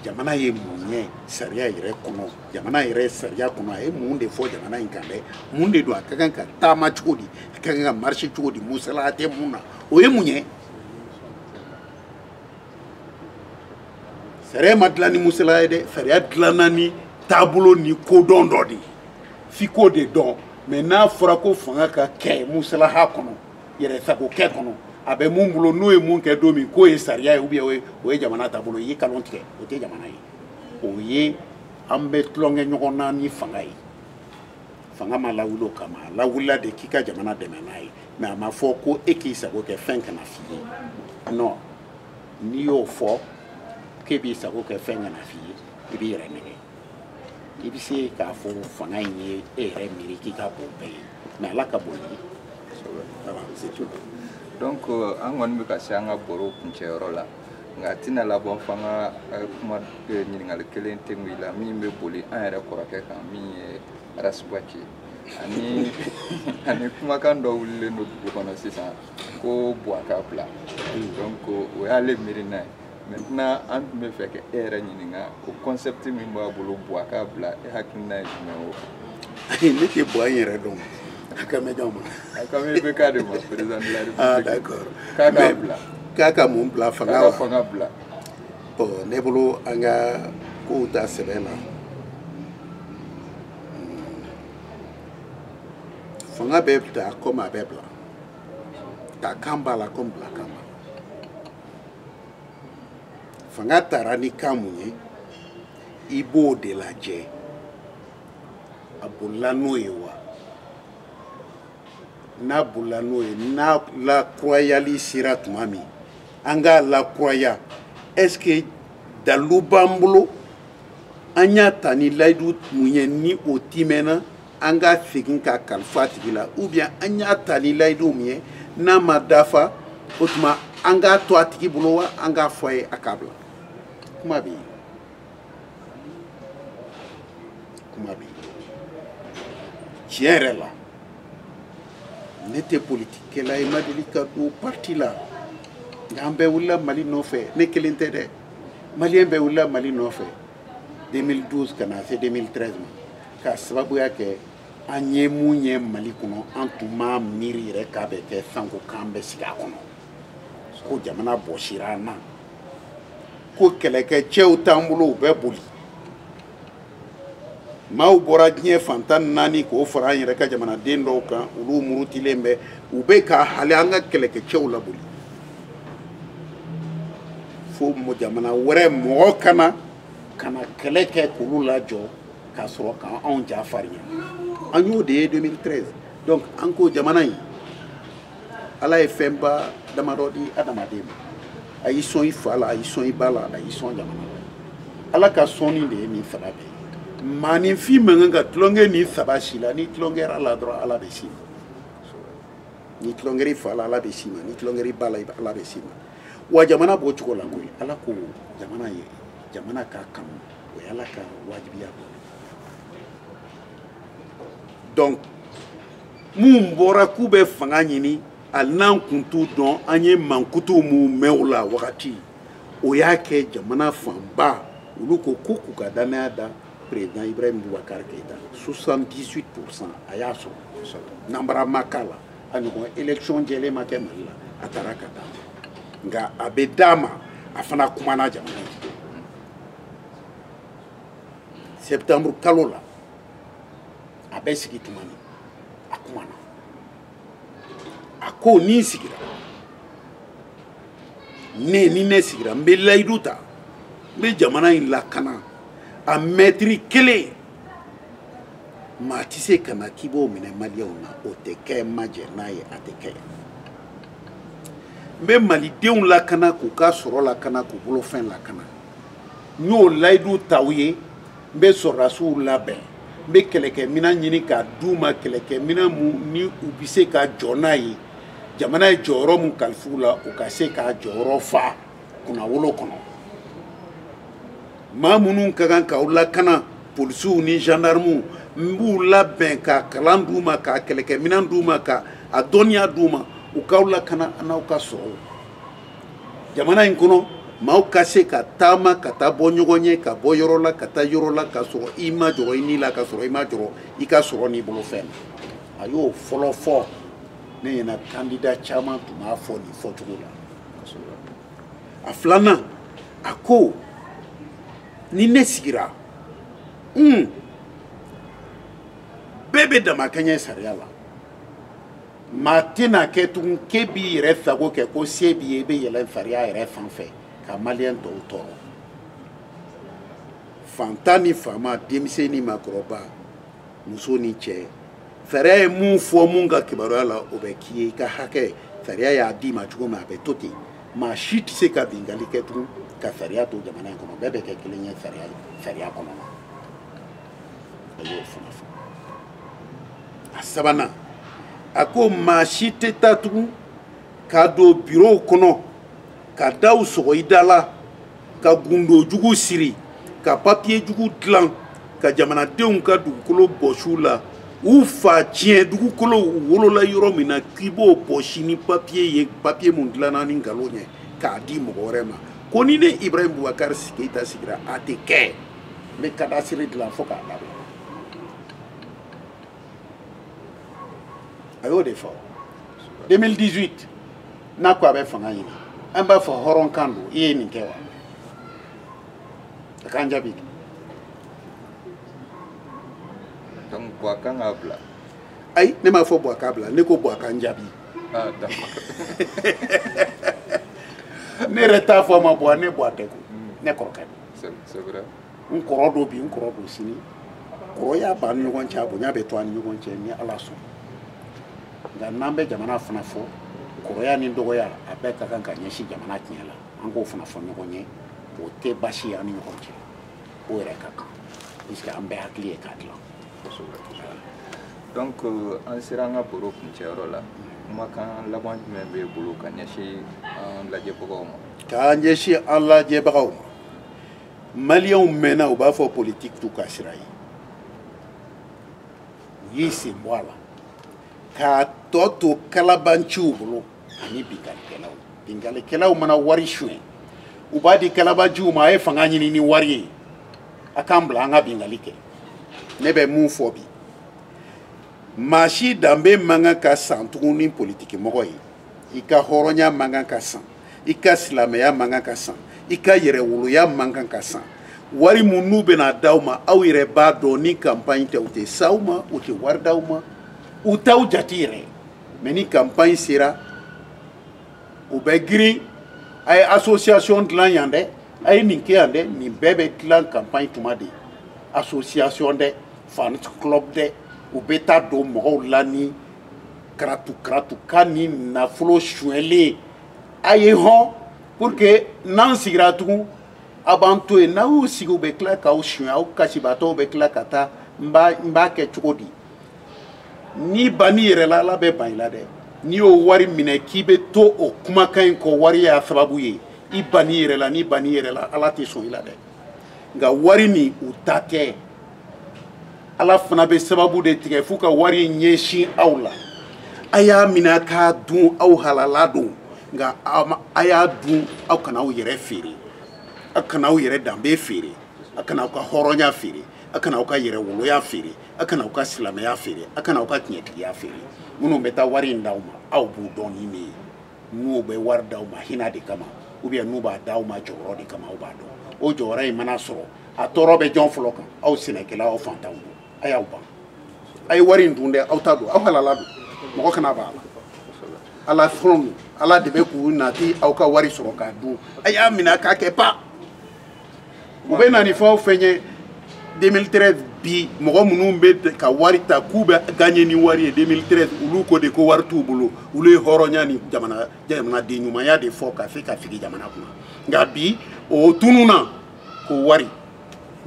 jamana ye mun ye sariya yɛrɛ kɔnɔ jamana yɛrɛ sariya kɔnɔ a ye mun de fɔ jamana in kan dɛ mun de don a ka kan ka taama cogo di a ka kan ka marcher cogo di musalaha tɛ mun na o ye mun ye sariya ma dilan ni musalaha ye dɛ sariya dilanna ni taabolo ni kodɔn dɔ de ye f'i k'o de dɔn mais n'a fɔra ko fanga ka kɛ musalaha kɔnɔ yɛrɛsagokɛ kɔnɔ a bɛ mun bolo n'o ye mun kɛ don min k'o ye sariya ye ou bien o ye jamana taabolo ye i ye kalon tigɛ o tɛ jamana ye o ye an bɛ tulonkɛ ɲɔgɔn na ni fanga ye fanga ma lawuli o kama a lawulila de k'i ka jamana dɛmɛ n'a ye mais a ma fɔ ko e k'i sago kɛ fɛn kana f'i ye non n'i y'o fɔ k'e b'i sago kɛ fɛn kana f'i ye i b'i yɛrɛ nɛgɛn i bɛ se k'a fɔ fanga in ye e yɛrɛ miiri k'i ka bon bɛɛ ye mais ala ka bon ye donc
euh, an kɔni bɛ ka se an ka baro kuncɛyɔrɔ la nka a tɛna laban fo an ka euh, kuma euh, ɲininkali kelen kɛ i la min bɛ boli an yɛrɛ kɔrɔkɛ kan min ye ras bath ani kumakan dɔ wulilen don dugu kɔnɔ sisan ko buwa ka bila donc o y'ale miirina ye maintenant an tun b'a fɛ ka e yɛrɛ ɲininka o concept min b'a bolo buwa ka bila e hakilina ye jumɛn o kan ne
tɛ buwa in yɛrɛ dɔn a kan bɛ jɔn ma a kan bɛ ibk
de ma président de la république ah d'accord
k'a k'a bila
k'a ka mun bila
fanga k'a ka fanga bila
bon
ne bolo an ka kow ta sɛbɛ la fanga bɛ ta komi a bɛ bila ta kan b'a la komi bila kan b'a la fanga tara ni kan mun ye i b'o de lajɛ a bolila n'o ye wa n'a bolila n'o ye n'a lakurayali sera tuma min an k'a lakuraya est ce que dalilu b'an bolo an y'a ta ni layidu mun ye ni o tiimɛna an ka segin k'a kalifa a tigi la ou bien an y'a ta ni layidu mun ye n'a ma dafa o tuma an k'a to a tigi bolo wa an k'a fɔ a ye a k'a bila kuma bɛ yen kuma bɛ tiɲɛ yɛrɛ la ne tɛ politikikɛla ye n ma deli ka don parti la nka an bɛɛ wulila mali nɔfɛ ne kelen tɛ dɛ maliyɛn bɛɛ wulila mali nɔfɛ 2012 ka na se 2013 ma k'a sababuya kɛ an ye mun ye mali kɔnɔ an tun m'a miiri yɛrɛ k'a bɛ kɛ sanko k'an bɛ sigi a kɔnɔ ko jamana bɔsira an na ko kɛlɛkɛcɛw t'an bolo u bɛɛ boli maaw bɔra diɲɛ fan tan ni naani k'o fara an yɛrɛ ka jamanaden dɔw kan olu murutilen bɛ u bɛ ka hali an ka kɛlɛkɛcɛw laboli fo jamana wɛrɛ mɔgɔ ka na ka na kɛlɛ kɛ k'olu lajɔ ka sɔrɔ k'anw ja farinya an y'o de ye 2013 donc an ko jamana in ala ye fɛnba damadɔ di adamaden ma a y'i sɔn i fa la a y'i sɔn i ba la a y'i sɔn jamana la ala ka sɔnni de ye nin saba bɛɛ ye maaninfin man kan ka tulonkɛ nin saba si la n'i tulonkɛra a la dɔrɔn ala bɛ s'i ma n'i tulonkɛra i fa la ala bɛ s'i ma n'i tulonkɛra i ba la ala bɛ s'i ma wa jamana b'o cogo la koyi ala ko jamana ye jamana k'a kanu o ye ala ka wajibiya dɔ donc minnu bɔra k'u bɛ fanga ɲini hali n'an kun t'u dɔn an ye mankutu minnu mɛn o la wagati o y'a kɛ jamana fanba olu ko ko k'u ka dannaya da président ibrahim boubacar keita 78 pourcent a y'a sɔrɔ nanbara ma k'a la a ɲɔgɔn élection jɛlen ma kɛ mali la a taara ka taa nka a bɛ d'a ma a fana kumana jamana ye septembre kalo la a bɛ sigi tuma min a kumana a ko ni n sigira ne ni ne sigira n bɛ layidu ta n bɛ jamana in lakana a mɛtiri kelen maa tɛ se ka na k'i b'o minɛ maliyɛnw na o tɛ kɛ n ma jɛn n'a ye a tɛ kɛ n bɛ malidenw lakana k'u ka sɔrɔ lakana k'u bolofɛn lakana n y'o layidu ta u ye n bɛ sɔrɔdasiw labɛn n bɛ kɛlɛkɛminɛn ɲini k'a d'u ma kɛlɛkɛminɛn mun ni u bɛ se ka jɔ n'a ye jamana ye jɔyɔrɔ min kalifa u la u ka se k'a jɔyɔrɔ fa kunnawolo kɔnɔ maa minnu ka kan k'aw lakana polisiw ni zandarmuw n b'u labɛn ka kalan d'u ma ka kɛlɛkɛminɛn d'u ma ka a dɔnniya d'u ma u k'aw lakana an'aw ka sɔrɔw jamana in kɔnɔ maaw ka se ka taama ka taa bɔ ɲɔgɔn ye ka bɔ yɔrɔ la ka taa yɔrɔ la ka sɔrɔ i ma jɔrɔ i ni la ka sɔrɔ i ma jɔrɔ i ka sɔrɔ n'i bolofɛn na a y'o fɔlɔ fɔ ne ɲɛna kandida caman tun b'a fɔ nin fɔcogo la a filanan a ko ni ne sigira bɛɛ bɛ damakɛɲɛ sariya la maa tɛna kɛ tugun k'e b'i yɛrɛ sago kɛ ko se b'i ye i bɛ yɛlɛn sariya yɛrɛ sanfɛ ka maliyɛn tɔw tɔɔrɔ fantan ni faama denmisɛn ni maakɔrɔba muso ni cɛ sariya ye mun fɔ mun ka kibaruya la o bɛ k'i ye i ka hakɛ sariya y'a d'i ma cogo min a bɛ to ten maa si tɛ se ka bingali kɛ tugun ka sariya to jamana in kɔnɔ bɛɛ bɛ kɛ kelen ye sariya sariya kɔnɔ a y'o fana fɔ a sabanan a ko maa si tɛ taa tugun ka don birow kɔnɔ ka daw sɔgɔ i da la ka gundo jugu siri ka papiye jugu dilan ka jamanadenw ka dugukolo bɔsi u la u fa tiɲɛ dugukolo u wolola yɔrɔ min na k'i b'o bɔsi ni papiye ye papiye mun dilanna ni nkalon ye k'a di mɔgɔ wɛrɛ ma ko ni ne ibrahim bubakari keyita sigira a tɛ kɛ n bɛ kadasiri dilan fo k'a laban a y'o de fɔ 2018 n'a ko a bɛ fanga ɲini an b'a fɔ hɔrɔnkan don i ye nin kɛ wa a k'an jaabi
donc buwa kan k'a bila ayi ne
m'a fɔ buwa k'a bila ne ko buwa k'an jaabi ah, ne yɛrɛ t'a fɔ a ma buwa ne buwa tɛ ko ne kɔrɔkɛ don
n kɔrɔ don
bi n kɔrɔ don sini kɔrɔya b'an ni ɲɔgɔn cɛ a bonya bɛ to an ni ɲɔgɔn cɛ ni ala sɔn nka n'an bɛ jamana fana fɔ kɔrɔya ni dɔgɔya a bɛɛ ka kan ka ɲɛsin jamana tiɲɛ la an k'o fana fɔ ɲɔgɔn ye o tɛ baasi ye an ni ɲɔgɔn cɛ o yɛrɛ ka kan puisque an bɛɛ hakili ye k'a dilan donc
euh, an sera an ka baro kuncɛyɔrɔ la kumakan laban jumɛn b'e bolo ka ɲɛsin an lajɛbagaw ma k'an ɲɛsin an
lajɛbagaw ma maliyɛnw mɛnna u b'a fɔ politiki t'u ka sira ye u y'i sen bɔ a la k'a tɔ to kalabanciw bolo ani binkanikɛlaw binkanikɛlaw mana wari suɲɛ u b'a di kalabanciw ma a ye fanga ɲini ni wari ye a k'an bila an ka binkali kɛ ne bɛ mun fɔ bi maa si danbe man kan ka san tugun ni politikimɔgɔ ye i ka hɔrɔnya man kan ka san i ka silamɛya man kan ka san i ka yɛrɛwoloya man kan ka san wari mun n'u bɛna d'aw ma aw yɛrɛ b'a dɔn ni campagne tɛ u tɛ s'aw ma u tɛ wari d'aw ma u t'aw jate yɛrɛ mais ni campagne sera u bɛ girin a ye association dilan yan dɛ a ye nin kɛ yan dɛ nin bɛɛ bɛ dilan campagne tuma de association dɛ fan club dɛ u bɛ taa don mɔgɔw la ni karatu karatu ka ni nafolo suɲɛlen a ye hɔn pour que n'an sigira tugun aw b'an to yen n'aw y'u sigi u bɛ tila k'aw suɲɛ aw kasibaatɔw bɛ tila ka taa n b'a kɛ cogo di n'i bann'i yɛrɛ la ala bɛ ban i la dɛ n'i y'o wari minɛ k'i bɛ to o kumakan in kɔ wari y'a sababu ye i bann'i yɛrɛ la n'i bann'i yɛrɛ la ala tɛ sɔn i la dɛ nka wari nin u ta tɛ ala fana bɛ sababu de tigɛ f'u ka wari ɲɛsin aw la a y'a minɛ k'a dun aw halala don nka a y'a dun aw kana aw yɛrɛ feere aw kana aw yɛrɛ danbe feere aw kana aw ka hɔrɔnya feere aw kana aw ka yɛrɛwoloya feere aw kana aw ka silamɛya feere aw kana aw ka tiɲɛtigiya feere minnu bɛ taa wari in d'aw ma aw b'u dɔn ni min ye n'u bɛ wari d'aw ma hinɛ de kama ou bien n'u b'a d'aw ma jɔyɔrɔ de kama aw b'a dɔn o jɔyɔrɔ in mana sɔrɔ a tɔɔrɔ bɛ jɔn fɔlɔ kan aw sɛnɛkɛlaw aw fantanw don a y'aw ban a ye wari in dun dɛ aw ta don aw halala don mɔgɔ kana b'a la ala fɛnw ala de bɛ k'u nati aw ka wari sɔrɔ k'a dun a y'a minɛ k'a kɛ pa u bɛ na ni fɛn o fɛn ye 2013 bi mɔgɔ minnu bɛ ka wari ta k'u bɛ gagner ni wari ye 2013 olu ko de ko wari t'u bolo olu ye hɔrɔnya ni jamana jamanaden ɲumanya de fɔ ka se ka sigi jamana kunna nka bi o tununna ko wari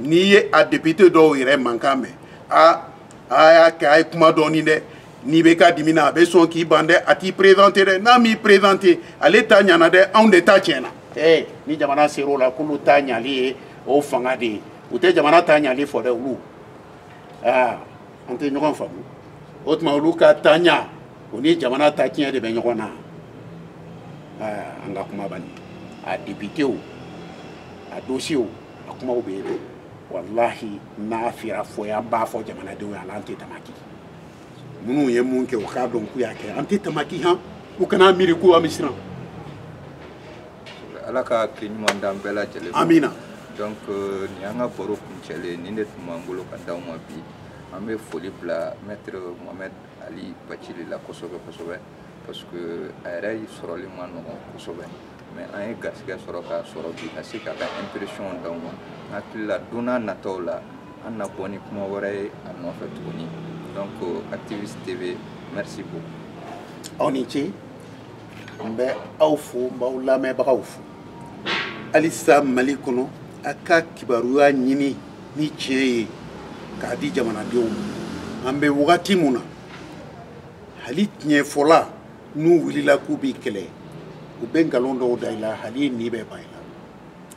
n'i ye a député dɔw yɛrɛ mankan mɛn a a y'a kɛ a ye kuma dɔɔni dɛ n'i bɛ ka dimi na a bɛ sɔn k'i ban dɛ a t'i présenter dɛ n'a m'i présenter ale ta ɲana dɛ anw de ta tiɲɛna ee ni jamana ser'o la k'olu ta ɲali ye o fanga de ye u tɛ jamana ta ɲali fɔ dɛ olu aa an tɛ ɲɔgɔn faamu o tuma olu ka ta ɲa o ni jamana ta tiɲɛ de bɛ ɲɔgɔn na aa an ka kuma bani a députéw a dossierw a kumaw bɛ yen dɛ walahi n'a fira fɔ yan b'a fɔ jamanadenw ye a n'an tɛ damaki minnu ye mun kɛ u k'a dɔn k'u y'a kɛ an tɛ tamaki han u kana miiri ko an bɛ
siran ala ka hakili ɲuman d'an bɛɛ lajɛlen amina donc
euh,
nin y'an ka baro kuncɛlen nin de tun b'an bolo ka d'aw ma bi an bɛ foli bila maître mohamed ali bacili la kosɛbɛ kosɛbɛ parce que a yɛrɛ sɔrɔli man nɔgɔn kosɛbɛ mais an ye garisɛgɛ sɔrɔ k'a sɔrɔ bi ka se k'a ka impression d'aw ma n hakili la don n'a nataw la an na bɔ ni kuma wɛrɛ ye a nɔfɛ tuguni donc activiste tv merci beaucoup aw ni ce
n bɛ aw fo n b'aw lamɛnbagaw fo halisa mali kɔnɔ a ka kibaruya ɲini ni tiɲɛ ye k'a di jamanadenw ma an bɛ wagati min na hali tiɲɛfɔla n'u wulila k'u b'i kɛlɛ u bɛ nkalon dɔw da i la hali i ni bɛ ban i la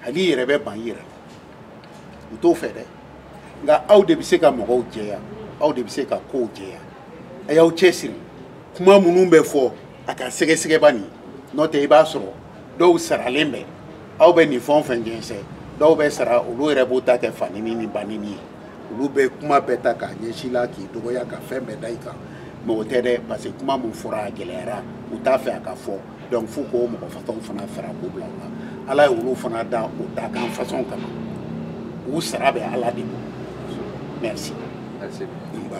hali i yɛrɛ bɛ ban i yɛrɛ la u t'o fɛ dɛ nka aw de bɛ se ka mɔgɔw jɛya aw de bɛ se ka kow jɛya a y'aw cɛsiri kuma minnu bɛ fɔ a k'a sɛgɛsɛgɛ bani n'o tɛ i b'a sɔrɔ dɔw saralen bɛ aw bɛ nin fɛn o fɛn jɛnsɛn dɔw bɛ sara olu yɛrɛ b'u ta kɛ fanini ni banini ye olu bɛ kuma bɛɛ ta k'a ɲɛsin i la k'i dɔgɔya ka fɛn bɛɛ da i kan mais o tɛ dɛ parce que kuma min fɔra a gɛlɛyara u t'a fɛ a ka fɔ donc f'u k'o mɔgɔ façon fana fara k'u bila u la ala ye olu fana da o dakan façon kama u sara bɛ ala de bolo
merci.
Merci. Nba.